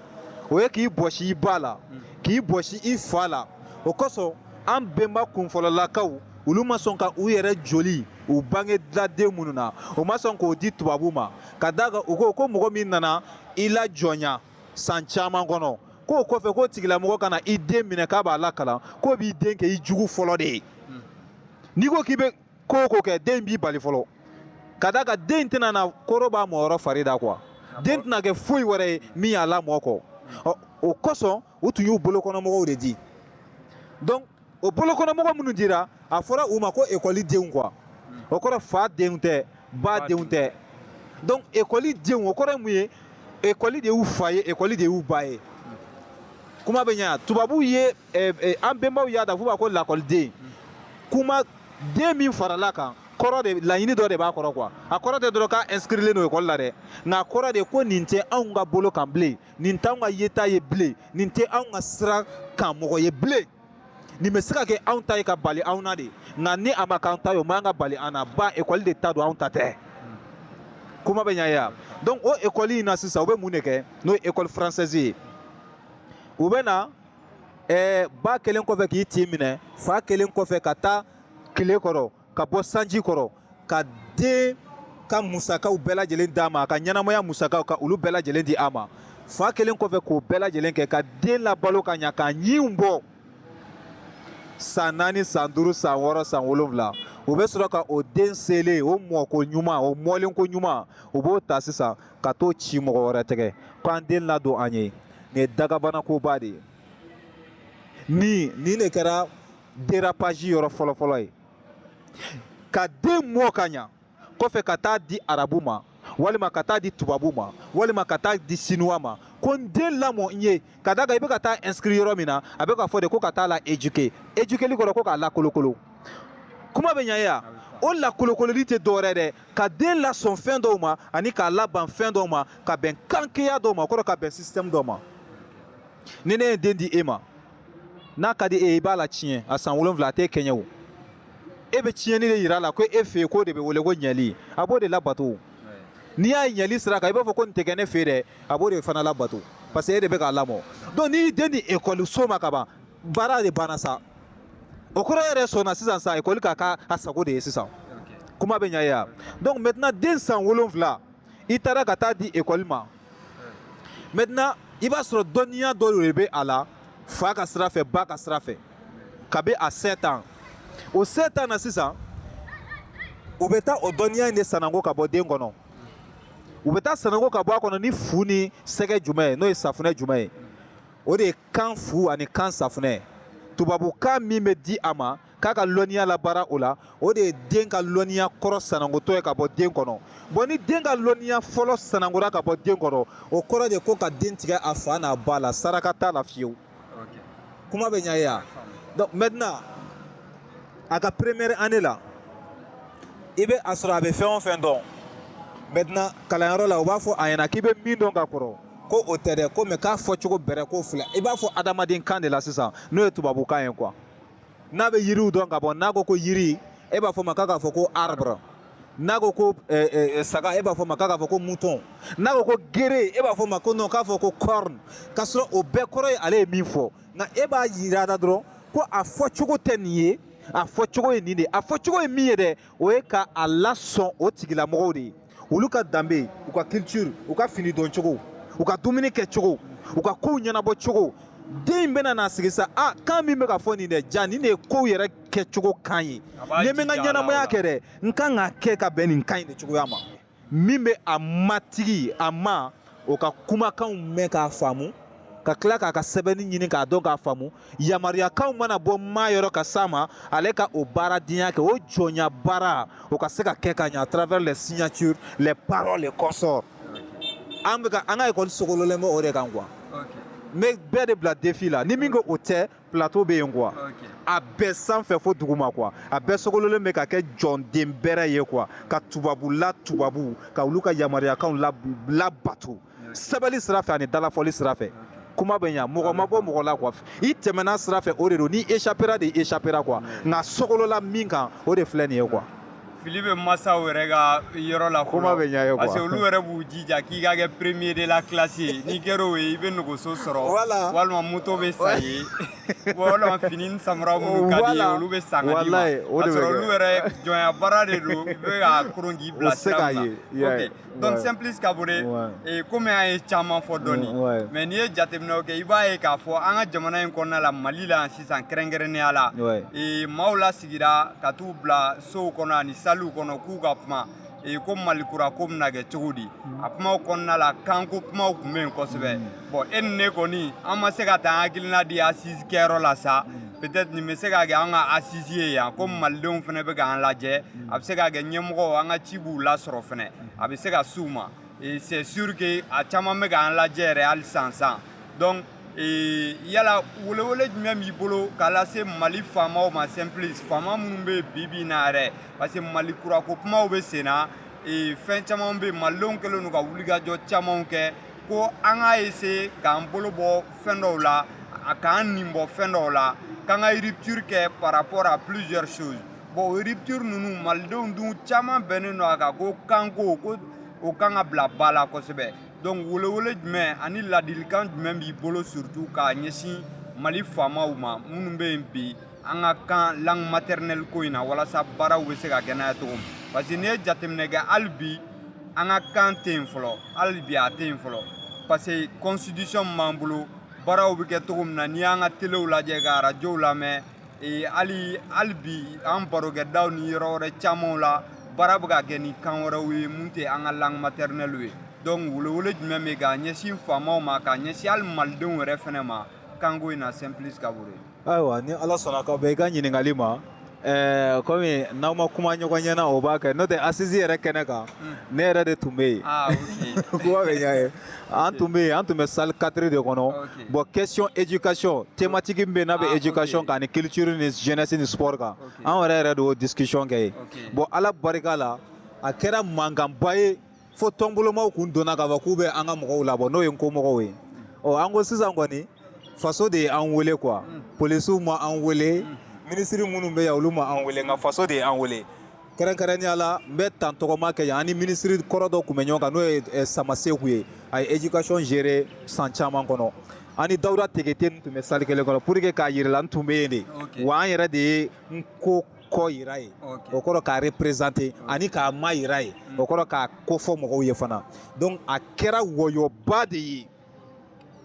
S2: o ye k'i bɔsi i ba la k'i bɔsi i fa la o kosɔn an bɛnba kunfɔlɔlakaw olu ma sɔn ka u yɛrɛ joli u bange dila den minnu na u ma sɔn k'o di tubabu ma ka d'a kan u ko ko mɔgɔ min nana i lajɔnya san caman kɔnɔ k'o kɔfɛ k'o tigilamɔgɔ ka na i den minɛ k'a b'a lakalan k'o b'i den kɛ i jugu fɔlɔ de ye n'i ko k'i bɛ ko o ko kɛ den b'i bali fɔlɔ ka d'a kan den tɛna na koro b'a mɔyɔrɔ fari da quoi den tɛna kɛ foyi wɛrɛ ye min y'a lamɔ kɔ ɔ o kosɔn u tun y'u bolokɔnɔmɔgɔw de di donc o bolokɔnɔmɔgɔ minnu dira a fɔra u ma ko ekɔli denw quoi o kɔrɔ fa denw tɛ ba denw tɛ donc ekɔli denw o kɔrɔ ye mun ye ekɔli de y'u fa ye ekɔli de y'u ba ye kuma bɛ ɲa tubabuw ye eh, eh, an bɛnbaw y'a da f'u b'a ko lakɔliden kuma den min farala kan kɔrɔ de laɲini dɔ de b'a kɔrɔ quoi a kɔrɔ tɛ dɔrɔn k'a inscrilen don ekɔli la dɛ nka a kɔrɔ de ko nin tɛ anw ka bolo kan bilen nin t'anw ka yeta ye bilen nin tɛ anw ka sira kan mɔgɔ ye bilen nin bɛ se ka kɛ anw ta ye ka bali anw na dɛ nka ni a ma k'an ta ye o man ka bali an na ba ekɔli de ta don anw ta tɛ kuma bɛ ɲɛ ya donc o ekɔli in na sisan u bɛ mun de kɛ n'o ye ekɔli française ye u bɛ na ɛɛ ba kɛlen kɔfɛ k'i tin minɛ fa kɛlen kɔfɛ ka taa tile kɔrɔ ka bɔ sanji kɔrɔ ka den ka musakaw bɛɛ lajɛlen d'a ma a ka ɲɛnamaya musakaw ka olu bɛɛ lajɛlen di a ma fa kɛlen kɔfɛ k'o bɛɛ lajɛlen kɛ ka den labalo ka ɲa k'a ɲinw bɔ san naani san duuru san wɔɔrɔ san wolonwula o bɛ sɔrɔ ka o den selen o mɔ koɲuman o mɔlen koɲuman o b'o ta sisan ka t'o ci mɔgɔ wɛrɛ tɛgɛ ko an den ladon an ye nin ye dagabanakoba de ye ni nin de kɛra dérapage yɔrɔ fɔlɔfɔlɔ ye ka den mɔ ka ɲa kɔfɛ ka taa di arabu ma walima ka taa di tubabu ma walima ka taa di sinuwa ma ko n den lamɔ n ye ka da kan i bɛ ka taa inscrit yɔrɔ min na a bɛ ka fɔ de ko ka taa la éduquer éduquerli kɔrɔ ko k'a lakolokolo kuma bɛ ɲa ye wa o lakolokololi tɛ dɔwɛrɛ dɛ ka den lasɔn fɛn dɔw ma ani k'a laban fɛn dɔw ma ka bɛn kankeya dɔw ma o kɔrɔ ka bɛn système dɔw ma ni ne ye den di e ma n'a ka di e ye i b'a la tiɲɛ a san wolonwula a t'e kɛɲɛ o e bɛ tiɲɛni de yira a la ko e fɛ yen k'o de bɛ wele ko ɲɛli a b'o de labato n'i y'a ye ɲɛli sira kan i b'a fɔ ko nin tɛ kɛ ne fɛ yen dɛ a b'o de fana labato parce que e de bɛ k'a lamɔ donc n'i y'i den di ekɔliso ma ka ban baara de banna sa o kɔrɔ yɛrɛ sɔnna sisan sa ekɔli k'a k'a sago de ye sisan kuma bɛ ɲa ye wa donc maintenant den san wolonwula i taara ka taa di ekɔli ma maintenant i b'a sɔrɔ dɔnniya dɔ de bɛ a la fa ka sira fɛ ba ka sira fɛ kabi a sept ans o sept ans na sisan u bɛ taa o dɔnniya in de sanango ka bɔ den kɔnɔ u bɛ taa sanango ka bɔ a kɔnɔ ni fu ni sɛgɛ jumɛn ye n'o ye safunɛ jumɛn ye o de ye kan fu ani kan safunɛ ye tubabukan min bɛ di a ma k'a ka lɔnniya labaara o la o de ye den ka lɔnniya kɔrɔ sanangotɔ ye ka bɔ den kɔnɔ bon ni den ka lɔnniya fɔlɔ sanangora ka bɔ den kɔnɔ o kɔrɔ de ko ka den tigɛ a fa n'a ba la saraka t'a la fiyewu kuma bɛ ɲa ye wa donc maintenant a ka première année la i bɛ a sɔrɔ a bɛ fɛn o fɛn dɔn maintenant kalanyɔrɔ la u b'a fɔ a ɲɛna k'i bɛ min dɔn ka kɔrɔ ko o tɛ dɛ ko mɛ k'a fɔcogo bɛrɛ ko fila i b'a fɔ adamaden kan de la sisan n'o ye tubabukan ye quoi n'a bɛ yiriw dɔn ka bɔ n'a ko ko yiri e b'a fɔ ma k'a k'a fɔ ko arbre n'a ko ko eh, eh, eh, saga e b'a fɔ ma k'a k'a fɔ ko mouton n'a ko ko gere e b'a fɔ ma ko non k'a fɔ ko corne k'a sɔrɔ o bɛɛ kɔrɔ ye ale ye min fɔ nka e b'a yira a la dɔrɔn ko a fɔcogo tɛ nin ye a fɔcogo ye nin de ye a fɔcogo ye min ye dɛ o ye ka a lasɔn o tigilamɔgɔw de ye olu ka danbe u ka culture u ka fini don cogo u ka dumuni kɛ cogo u ka kow ɲɛnabɔ cogo den in bɛna n'a sigi sa a kan min bɛ ka fɔ nin dɛ jaa nin de ye kow yɛrɛ kɛcogo kan ye ni n bɛ n ka ɲɛnamaya kɛ dɛ n kan k'a kɛ ka bɛn nin kan in de cogoya ma min bɛ a matigi a ma o ka kumakanw mɛn k'a faamu ka tila k'a ka sɛbɛnni ɲini k'a dɔn k'a faamu yamaruyakanw mana bɔ maa yɔrɔ ka s'a ma ale ka o baaradenya kɛ o jɔnya baara o ka se ka kɛ ka ɲa à travers les signatures les paroles et consorts an bɛ ka an ka ekɔli sogololen bɛ o de kan quoi n bɛ bɛɛ de bila défi la ni min ko o tɛ plateau bɛ yen quoi a bɛɛ sanfɛ fo duguma quoi a bɛɛ sogololen bɛ ka kɛ jɔnden bɛrɛ ye quoi ka tubabu la tubabu ka olu ka yamaruyakanw labato sɛbɛnni sira fɛ ani dalafɔli sira fɛ kuma bɛ ɲa mɔgɔ ma bɔ mɔgɔ la quoi i tɛmɛna sira fɛ o de don n'i échappera de i échappera quoi nka sogolola min kan o de filɛ nin ye quoi fili bɛ
S1: masaw yɛrɛ ka yɔrɔ la kuma bɛ ɲɛ ye quoi parce que
S2: olu yɛrɛ b'u
S1: jija k'i ka kɛ premier de la classe ye n'i kɛra o ye i bɛ nɔgɔso sɔrɔ voilà. walima moto bɛ san i ye walima fini ni samara minnu ka di i ye olu bɛ san ka d'i ma k'a sɔrɔ olu yɛrɛ jɔnya baara de don i bɛ ka koron k'i bila sira min na. donc simplice kabore ee komi an ye caman fɔ dɔɔni mais n'i ye jateminɛw kɛ i b'a ye k'a fɔ an ka jamana in kɔnɔna la mali la sisan kɛrɛnkɛrɛnnenya la ee maaw lasigira ka t'u bila sow kɔnɔ ani saliw kɔnɔ k'u ka kuma ee ko malikura ko bɛna kɛ cogo di a kumaw kɔnɔna la kanko kumaw tun bɛ yen kosɛbɛ bon e ni ne kɔni an ma se ka taa an hakilina di assise kɛyɔrɔ la sa peut-être nin bɛ se ka kɛ an ka assise ye yan ko malidenw fana bɛ k'an lajɛ a bɛ se ka kɛ ɲɛmɔgɔw an ka ci b'u lasɔrɔ fana a bɛ se ka s'u ma c'est sûr que a caman bɛ k'an lajɛ yɛrɛ hali sisan donc yala welewele jumɛn b'i bolo k'a lase mali faamaw ma simplice faama minnu bɛ bi bi in na yɛrɛ parce que malikura ko kumaw bɛ sen na fɛn caman bɛ yen malidenw kɛlen don ka wulikajɔ camanw kɛ ko an k'a essayer k'an bolo bɔ fɛn dɔw la a k'an nin bɔ fɛn dɔw la k'an ka rupture kɛ par rapport à plusieurs choses bon o rupture ninnu malidenw dun caman bɛnnen don a kan ko kanko ko o kan ka bila ba la kosɛbɛ donc welewele jumɛn ani ladilikan jumɛn b'i bolo surtout k'a ɲɛsin mali faamaw ma minnu bɛ yen bi an ka kan langue maternelle ko in na walasa baaraw bɛ se ka kɛ n'a ye cogo min parce que n'i ye jateminɛ kɛ hali bi an ka kan tɛ yen fɔlɔ hali bi a tɛ yen fɔlɔ parce que constitution min b'an bolo baaraw bɛ kɛ cogo min na n'i y'an ka telew lajɛ ka arajow lamɛn ee hali hali bi an barokɛdaw ni yɔrɔ wɛrɛ camanw la baara bɛ ka kɛ ni kan wɛrɛw ye mun tɛ an ka langue maternelle ye donc welewele jumɛn bɛ ka ɲɛsin faamaw ma ka ɲɛsin hali malidenw yɛrɛ fana ma
S2: kanko
S1: in na simplice
S2: kabore ayiwa ni
S1: ala
S2: sɔnna
S1: ka bɛn i ka
S2: ɲininkali ma ɛɛ kɔmi n'aw ma kuma ɲɔgɔn ɲɛna o b'a kɛ n'o tɛ assise yɛrɛ kɛnɛ kan ne yɛrɛ de tun bɛ yen Ah, ok. kuma bɛ ɲɛ ye an tun bɛ yen an tun bɛ salle quatre de kɔnɔ Ok. bon question éducation thématique min bɛ yen n'a bɛ éducation kan ani culture ni jeunesse ni sport kan Ok. an yɛrɛ yɛrɛ de y'o discussion kɛ yen Ok. bon ala barika la a kɛra mankanba ye fo tɔnbolomaw kun donna k'a fɔ k'u bɛ an ka mɔgɔw labɔ n'o ye nko mɔgɔw ye ɔ an ko sisan kɔni faso de ye an wele quoi polisiw ma an wele minisiri minnu bɛ yan olu ma an wele nka faso de ye an wele kɛrɛnkɛrɛnnenya la n bɛ tan tɔgɔma kɛ yan ani minisiri kɔrɔ dɔ tun bɛ ɲɔgɔn kan n'o ye eh, samaseku ye a ye éducation gérer san caman kɔnɔ ani dawuda tekete n tun bɛ salle kelen kɔnɔ pour que k'a yira i la n tun bɛ yen de wa an yɛrɛ de ye nko ko yira yen o kɔrɔ k'a représenter ani k'a mayira yen mm. o kɔrɔ k'a kofɔ mɔgɔw ye fana donc a kɛra wɔyɔba de ye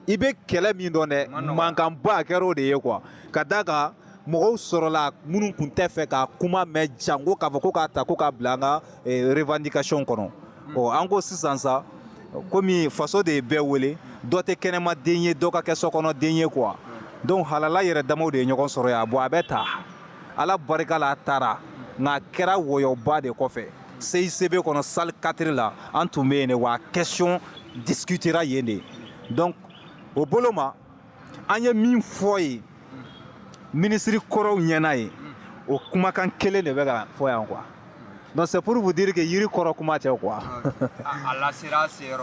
S2: i bɛ kɛlɛ min dɔn dɛ mankanba a kɛra o de ye quoi ka d'a kan mɔgɔw sɔrɔla minnu tun tɛ fɛ ka kuma mɛn jango k'a fɔ ko k'a ta ko k'a bila an ka eh, revendication kɔnɔ mm. ɔ an ko sisan sa komi faso de ye bɛɛ wele dɔ tɛ kɛnɛma den ye dɔ ka kɛ sokɔnɔ den ye quoi mm. donc halala yɛrɛ damaw de ye ɲɔgɔn sɔrɔ yan bon a bɛ ta ala barika la a taara nka a kɛra wɔyɔba de kɔfɛ CICB kɔnɔ salle 4 la an tun bɛ yen de wa question discutera yen de donc o bolo ma an ye min fɔ ye minisiri kɔrɔw ɲɛna yen o kumakan kelen de bɛ ka fɔ yan quoi donc c'est pour vous dire que yiri kɔrɔ kuma tɛ quoi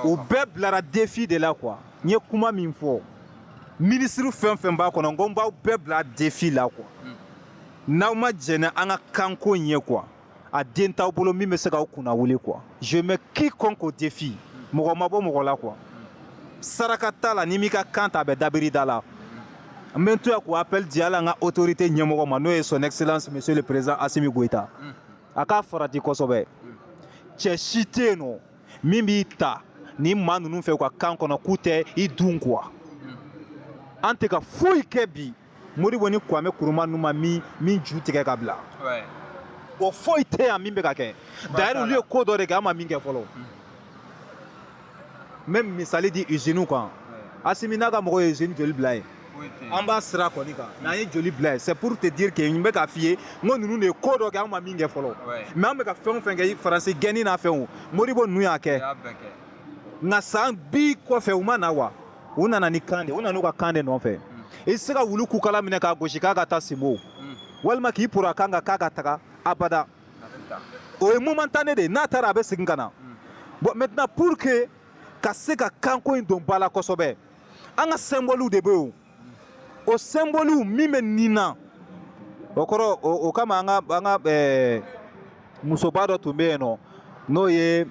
S2: u bɛɛ bilara défi de la quoi n ye kuma min fɔ minisiri fɛn fɛn b'a kɔnɔ n ko n b'aw bɛɛ bila défi la quoi hmm. n'aw ma jɛn n'an ka kanko in ye quoi a den t'aw bolo min bɛ se k'aw kunna wuli quoi je mets quiconque au défi mɔgɔ ma bɔ mɔgɔ la quoi saraka t'a la n'i m'i ka kan ta a bɛ dabiri da la n bɛ n to yan k'o appel di hali an ka autorité ɲɛmɔgɔ ma n'o ye son excellence monsieur le président asimi goyita hmm. a k'a farati kosɛbɛ hmm. cɛ si tɛ yen nɔ min bɛ taa ni maa ninnu fɛ u ka kan kɔnɔ k'u tɛ i dun quoi an tɛ ka foyi kɛ bi modibo ni kwame nkrumah ninnu ma min min ju tigɛ ka bila o foyi tɛ yan min bɛ ka kɛ d'ailleurs olu ye ko dɔ de kɛ an ma min kɛ fɔlɔ n bɛ misali di iziniw kan asimi n'a ka mɔgɔ ye izini joli bila yen an b'a sira kɔni kan n'an ye joli bila yen c'est pour te dire que n bɛ k'a f'i ye n ko ninnu de ye ko dɔ kɛ an ma min kɛ fɔlɔ mais an bɛ ka fɛn o fɛn kɛ faransi gɛnni n'a fɛnw modibo ninnu y'a kɛ nka san bi kɔfɛ u ma na wa u nana ni kan de u nana u ka kan de nɔfɛ i tɛ se ka wulu kukala minɛ k'a gosi k'a ka taa sinbo walima k'i poron a kan kan k'a ka taga abada o ye momentané de ye n'a taara a bɛ segin ka na bon maintenant pour que ka se ka kanko in don ba la kosɛbɛ an ka symbole de bɛ yen o symbole min bɛ nin na o kɔrɔ o kama an ka an ka ɛɛ musoba dɔ tun bɛ yen nɔ n'o ye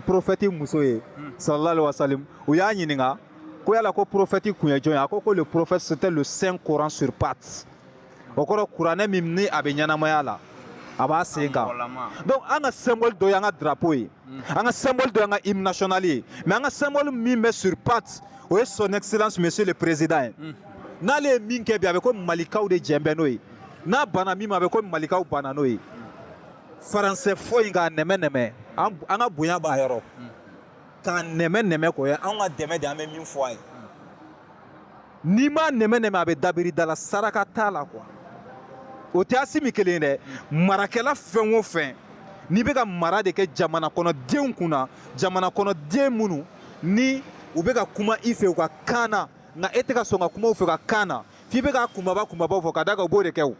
S2: prophète muso ye sallallahu alaihi wasallam u y'a ɲininka ko yala ko prophète kun ye jɔn ye a ko ko le prophète c'était le saint coran sur pattes o kɔrɔ kuranɛ min ni a bɛ ɲɛnamaya la a b'a sen kan donc an ka symbole dɔ y'an ka drapeau ye an ka symbole dɔ y'an ka hymne national ye mais an ka symbole min bɛ sur pattes o ye son excellence monsieur le président ye n'ale ye min kɛ bi a bɛ ko malikaw de jɛn bɛ n'o ye n'a banna min ma a bɛ ko malikaw banna n'o ye faransɛ fɔ in k'a nɛmɛ nɛmɛ an ka bonya b'a yɔrɔ k'a nɛmɛ nɛmɛ k'o ye an ka dɛmɛ de an bɛ min fɔ a ye n'i m'a nɛmɛ nɛmɛ a bɛ dabiri da la saraka t'a la quoi o tɛ Assimi kelen ye dɛ marakɛla fɛn o fɛn n'i bɛ ka mara de kɛ jamana kɔnɔ denw kunna jamana kɔnɔ den minnu ni u bɛ ka kuma i fɛ u ka kan na nka e tɛ ka sɔn ka kuma u fɛ u ka kan na f'i bɛ ka kunbaba kunbabaw fɔ ka da kan u b'o de kɛ o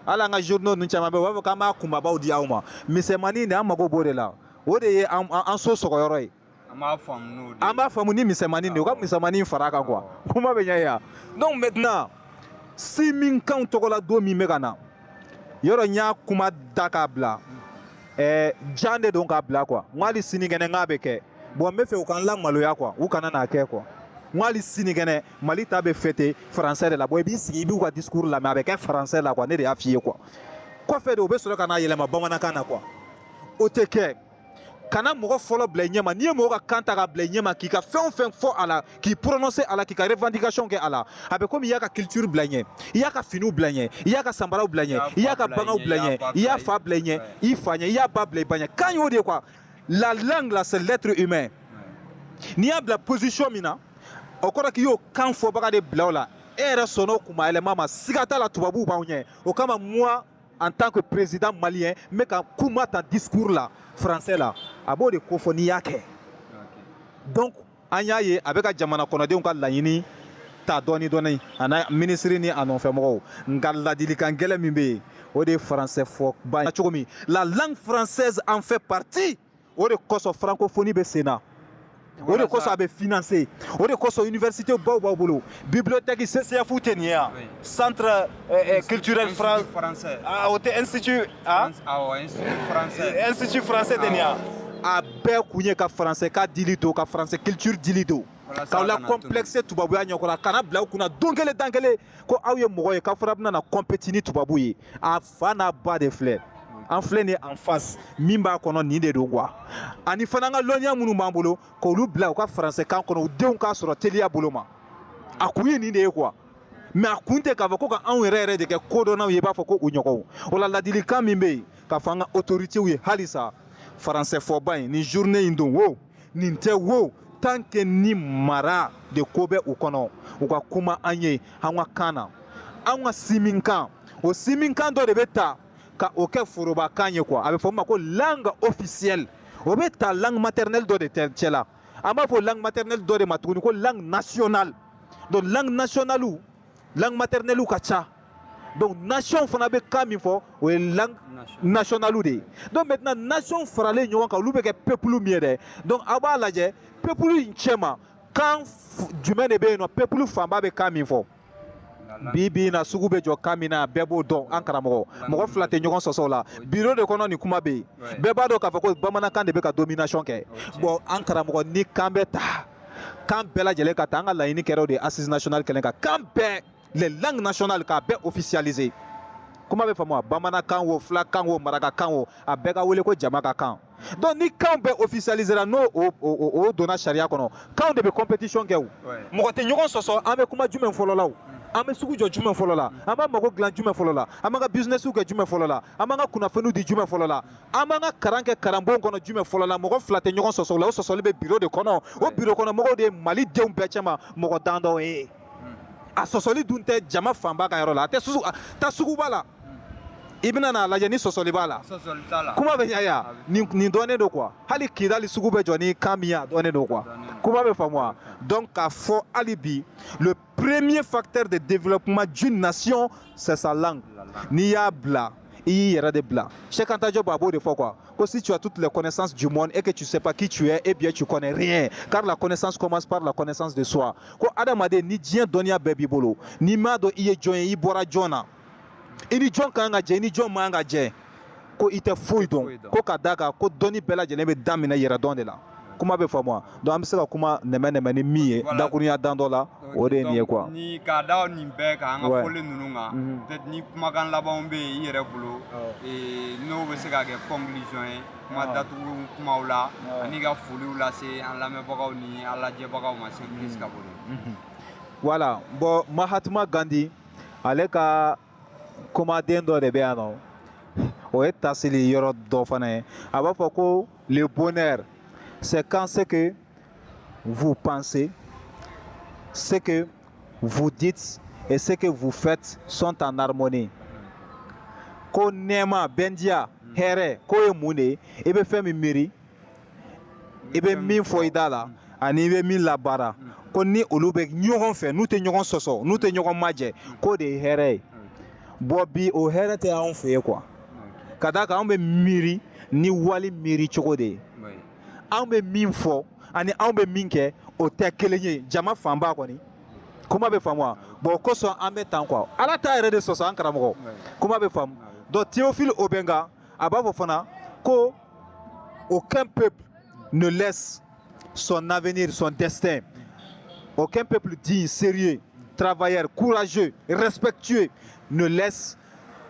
S2: hali an ka journaux ninnu caman bɛ yen u b'a fɔ k'an b'a kunbabaw di aw ma misɛnmanin de an mago b'o de la o de ye an so sɔgɔyɔrɔ ye an b'a faamu ni misɛnmanin de ye u ka misɛnmanin fara a kan quoi kuma bɛ ɲɛ yan donc maintenant sinminkanw tɔgɔladon min bɛ ka na yɔrɔ n y'a kuma da k'a bila ɛɛ jan de don k'a bila quoi n ko hali sinikɛnɛ n k'a bɛ kɛ bon n bɛ fɛ u ka n lamaloya quoi u kana n'a kɛ quoi n ko hali sinikɛnɛ mali ta bɛ fêter français de la bon i b'i sigi i b'u ka discours lamɛn a bɛ kɛ français la quoi ne de y'a f'i ye quoi kɔfɛ de u bɛ sɔrɔ ka n'a yɛlɛma bamanankan na quoi o tɛ kɛ kana mɔgɔ fɔlɔ bila i ɲɛma n'i ye mɔgɔ ka kan ta ka bila i ɲɛma k'i ka fɛn o fɛn fɔ a la k'i prononcer a la k'i ka revendication kɛ a la a bɛ komi i y'a ka culture bila i ɲɛ i y'a ka finiw bila i ɲɛ i y'a ka sanbaraw bila i ɲɛ i y'a ka baganw bila i ɲɛ i y'a fa bila i ɲɛ i fa ɲɛ i y'a ba bila i ba ɲɛ kan y'o de ye quoi la langue là c'est l'être humain n'i y'a bila position min na o kɔrɔ k'i y'o kan fɔbaga de bila o la e yɛrɛ sɔnn'o kunmayɛlɛma ma siga t'a la tubabuw b'anw ɲɛ o kama moi en tant que président malien n bɛ ka kuma ta discours la français la a b'o de kofɔ n'i y'a kɛ donc an y'a ye a bɛ ka jamana kɔnɔdenw ka laɲini ta dɔɔni dɔɔni a n'a minisiri ni a nɔfɛmɔgɔw nka ladilikan gɛlɛn min bɛ yen o de ye français fɔba ye cogo min la langue française en fait partie o de kosɔn francophonie bɛ sen na o de kosɔn a bɛ financer o de kosɔn université baw b'aw bolo bibliothèque CCF tɛ nin ye yan centre euh, euh, culturel français ah, o tɛ institut ah? ah, institut français tɛ nin ye yan a bɛɛ kun ye ka français ka dili to ka français culture dili to k'aw la complexe tubabuya ɲɛkɔrɔ a kana bila aw kunna don kelen dan kelen ko aw ye mɔgɔ ye k'a fɔra bɛna na compétir ni tubabu ye a fa n'a ba de filɛ an filɛ nin en face min b'a kɔnɔ nin de don quoi ani fana an ka lɔnniya minnu b'an bolo k'olu bila u ka faransɛkan kɔnɔ u denw k'a sɔrɔ teliya bolo ma a kun ye nin de ye quoi mais a kun tɛ k'a fɔ ko ka anw yɛrɛ yɛrɛ de kɛ kodɔnnaw ye i b'a fɔ ko u ɲɔgɔnw o la ladilikan min bɛ yen k'a fɔ an ka autoritéw ye halisa français fɔba in ni journée in don wo nin tɛ wo tant que ni mara de ko bɛ u kɔnɔ u ka kuma an ye an ka kan na an ka sinminkan o siminkan dɔ de bɛ ta ka o kɛ forobakan ye quoi a bɛ fɔ o ma ko langue officielle o bɛ ta langue maternelle dɔ de cɛ la an b'a fɔ langue maternelle dɔ de ma tuguni ko langue nationale donc langue nationale langue maternelle ka ca donc nation fana bɛ kan min fɔ o ye langue nationale de ye donc maintenant nation faralen ɲɔgɔn kan olu bɛ kɛ peuple min ye dɛ donc aw b'a lajɛ peuple in cɛma kan jumɛn de bɛ yen nɔ peuple fanba bɛ kan min fɔ bi bi in na sugu bɛ jɔ kan min na bɛɛ b'o dɔn an karamɔgɔ mɔgɔ fila tɛ ɲɔgɔn sɔsɔ o la biro de kɔnɔ nin kuma bɛ yen bɛɛ b'a dɔn k'a fɔ ko bamanankan de bɛ ka domination kɛ bon an karamɔgɔ ni kan bɛ ta kan bɛɛ lajɛlen ka ta an ka laɲini kɛra o de ye assise nationale kɛlen ka kan bɛɛ les langues nationales k'a bɛɛ officialiser kuma bɛ faamu wa bamanankan o fulakan o marakakan o a bɛɛ ka wele ko jama ka kan donc ni kanw bɛɛ officialisera n'o o donna sariya kɔnɔ kanw de bɛ competition kɛ o mɔgɔ tɛ ɲɔgɔn sɔsɔ an bɛ kuma jumɛn fɔlɔ la o an bɛ sugu jɔ jumɛn fɔlɔ la an b'an mago dilan jumɛn fɔlɔ la an b'an ka businessiw kɛ jumɛn fɔlɔ la an b'an ka kunnafoniw di jumɛn fɔlɔ la an b'an ka karan kɛ karanbon kɔnɔ jumɛn fɔlɔ la mɔgɔ fila tɛ ɲɔgɔn sɔsɔ o la o sɔsɔli bɛ biro de kɔnɔ o biro kɔnɔ mɔgɔw de ye mali denw bɛɛ cɛma mɔgɔ dan dɔw ye a sɔsɔli dun tɛ jama fanba ka yɔrɔ la a tɛ susu a- taa suguba la i bɛna n'a lajɛ ni sɔsɔli b'a la sɔsɔli t'a la kuma bɛ ɲa ya nin nin dɔnnen don quoi hali kidali sugu bɛ jɔ ni kan min ye a dɔnnen don quoi kuma bɛ faamu wa donc k'a fɔ hali bi le premier facteur de développement d'une nation c'est sa langue n'i y'a bila i y'i yɛrɛ de bila Cheikh Anta Diop a b'o de fɔ quoi ko si tu as toutes les connaissances du monde et que tu sais pas qui tu es eh bien tu connais rien car la connaissance commence par la connaissance de soi ko adamaden ni diɲɛ dɔnniya bɛɛ b'i bolo n'i m'a dɔn i ye jɔn ye i bɔra jɔn na i ni jɔn ka kan ka jɛ i ni jɔn man kan ka jɛ ko i tɛ foyi dɔn ko ka d'a kan ko dɔnni bɛɛ lajɛlen bɛ daminɛ yɛrɛdɔn de la kuma bɛ faamu wa donc an bɛ se ka kuma nɛmɛnɛmɛnin min ye dakurunya dan dɔ la o de ye nin ye quoi ni k'a da
S1: nin bɛɛ kan an ka fɔli ninnu kan mhm. peut-être ni kumakan labanw bɛ yen i yɛrɛ bolo n'o bɛ se ka kɛ conclusion ye kuma datugu kumaw la ani ka foliw lase an lamɛnbagaw ni an lajɛbagaw ma c'est plus ka bolo
S2: voilà bon Mahatma Gandhi ale ka kumaden dɔ de bɛ yan nɔ o ye taasili yɔrɔ dɔ fana ye a b'a fɔ ko Le bonheur, c'est quand ce que vous pensez, ce que vous dites et ce que vous faites sont en harmonie. Ko nɛɛma bɛndiya hɛrɛ k'o ye mun de ye i bɛ fɛn min miiri i bɛ min fɔ i da la ani i bɛ min labaara ko ni olu bɛ ɲɔgɔn fɛ n'u tɛ ɲɔgɔn sɔsɔ n'u tɛ ɲɔgɔn majɛ k'o de ye hɛrɛ ye bon bi o hɛrɛ tɛ anw fɛ yen quoi ka d'a kan anw bɛ miiri ni wali miiri cogo de ye anw bɛ min fɔ ani anw bɛ min kɛ o tɛ kelen ye jama fanba kɔni kuma bɛ faamu wa bon o kosɔn an bɛ tan quoi ala t'a yɛrɛ de sɔsɔ an karamɔgɔ kuma bɛ faamu donc théophile obenga a b'a fɔ fana ko aucun peuple ne laisse son avenir son destin aucun peuple digne sérieux travailleur courageux respectueux ne laisse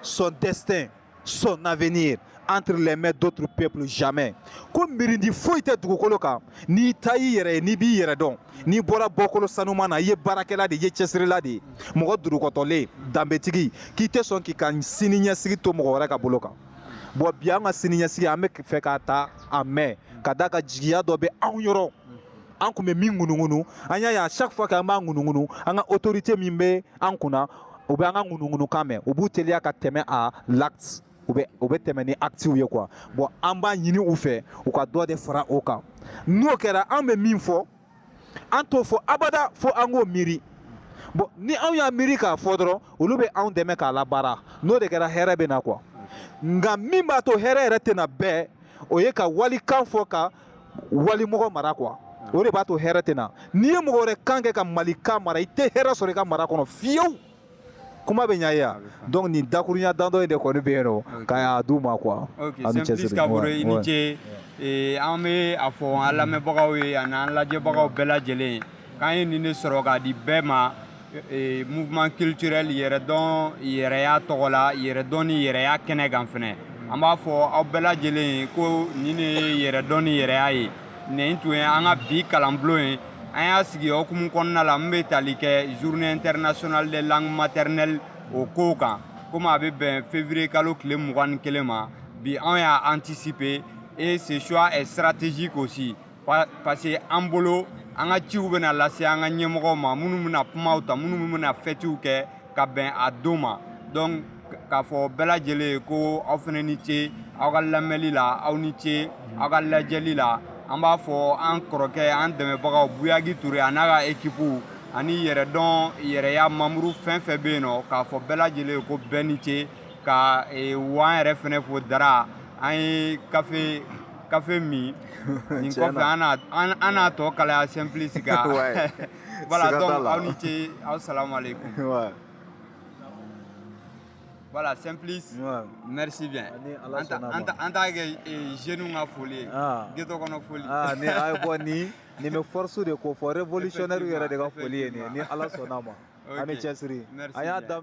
S2: son destin son avenir entre les mains d'autres peuples jamais ko mirindi foyi tɛ dugukolo kan n'i ta y'i yɛrɛ ye n'i b'i yɛrɛ dɔn n'i bɔra bɔkolo sanuman na i ye baarakɛla de ye cɛsirila de ye mɔgɔ durukɔtɔlen danbetigi k'i tɛ sɔn k'i ka sini ɲɛsigi to mɔgɔ wɛrɛ ka bolo kan bon bi an ka sini ɲɛsigi an bɛ fɛ k'a ta a mɛn ka d'a kan jigiya dɔ bɛ anw yɔrɔ an tun bɛ min ŋunuŋunu an y'a ye à chaque fois k'an b'a ŋunuŋunu an ka autorité min bɛ an kunna u bɛ an ka ŋunuŋunukan mɛn u b'u teliya ka tɛmɛ à l'acte u bɛ tɛmɛ ni actiw ye quoi bon an b'a ɲini u fɛ u ka dɔ de fara o kan n'o kɛra an bɛ min fɔ an t'o fɔ abada fo an k'o miiri bon ni anw y'a miiri k'a fɔ dɔrɔn olu bɛ anw dɛmɛ k'a labaara n'o de kɛra hɛrɛ bɛ na quoi nka min b'a to hɛrɛ yɛrɛ tɛ na bɛɛ o ye ka walikan fɔ ka wali mɔgɔ mara quoi o de b'a to hɛrɛ tɛ na n'i ye mɔgɔ wɛrɛ kan kɛ ka malika mara i tɛ hɛrɛ sɔrɔ i ka mara kɔnɔ fiyewu kuma bɛ ɲa ye yan donc nin dakurunya dandɔ in de kɔni bɛ yen nɔ ka y'a d'u ma quoi simplice kabore
S1: i ni ce an bɛ a fɔ an lamɛnbagaw ye ani an lajɛbagaw bɛɛ lajɛlen ye k'an ye nin de sɔrɔ k'a di bɛɛ ma e, mouvement culturel yɛrɛdɔn yɛrɛya tɔgɔ la yɛrɛdɔn ni yɛrɛya kɛnɛ kan fɛnɛ an b'a fɔ aw bɛɛ lajɛlen ye ko nin de ye yɛrɛdɔn ni yɛrɛya ye nin tun ye an ka bi kalanbulon ye an y'a sigi hukumu kɔnɔna la min bɛ tali kɛ journée internationale des langues maternelles o kow kan komi a bɛ bɛn février kalo tile mugan ni kelen ma bi anw y'a anticiper et ce choix est stratégique aussi parce que an bolo an ka ciw bɛna lase an ka ɲɛmɔgɔw ma minnu bɛna kumaw ta minnu bɛna fɛtiw kɛ ka bɛn a don ma donc k'a fɔ bɛɛ lajɛlen ye ko aw fana ni ce aw ka lamɛnli la aw ni ce aw ka lajɛli la an b'a fɔ an kɔrɔkɛ an dɛmɛbagaw buyagi ture a n'a ka ekipuw ani yɛrɛdɔn yɛrɛya membre fɛn fɛn bɛ yen nɔ k'a fɔ bɛɛ lajɛlen ye ko bɛɛ ni ce ka e, wa an yɛrɛ fɛnɛ fo dara an ye kafe kafe min nin kɔfɛ an n'a tɔ kalaya simplice kan voilà donc aw ni ce aw salamu aleykum voilà simplice merci bien en tant que jeunes ka foli ye geto kɔnɔ foli ni a ye bɔ
S2: ni nin bɛ force de ko fɔ révolutionnaire yɛrɛ de ka foli ye nin ye ni ala sɔnna a ma a ni cɛsiri an y'a daminɛ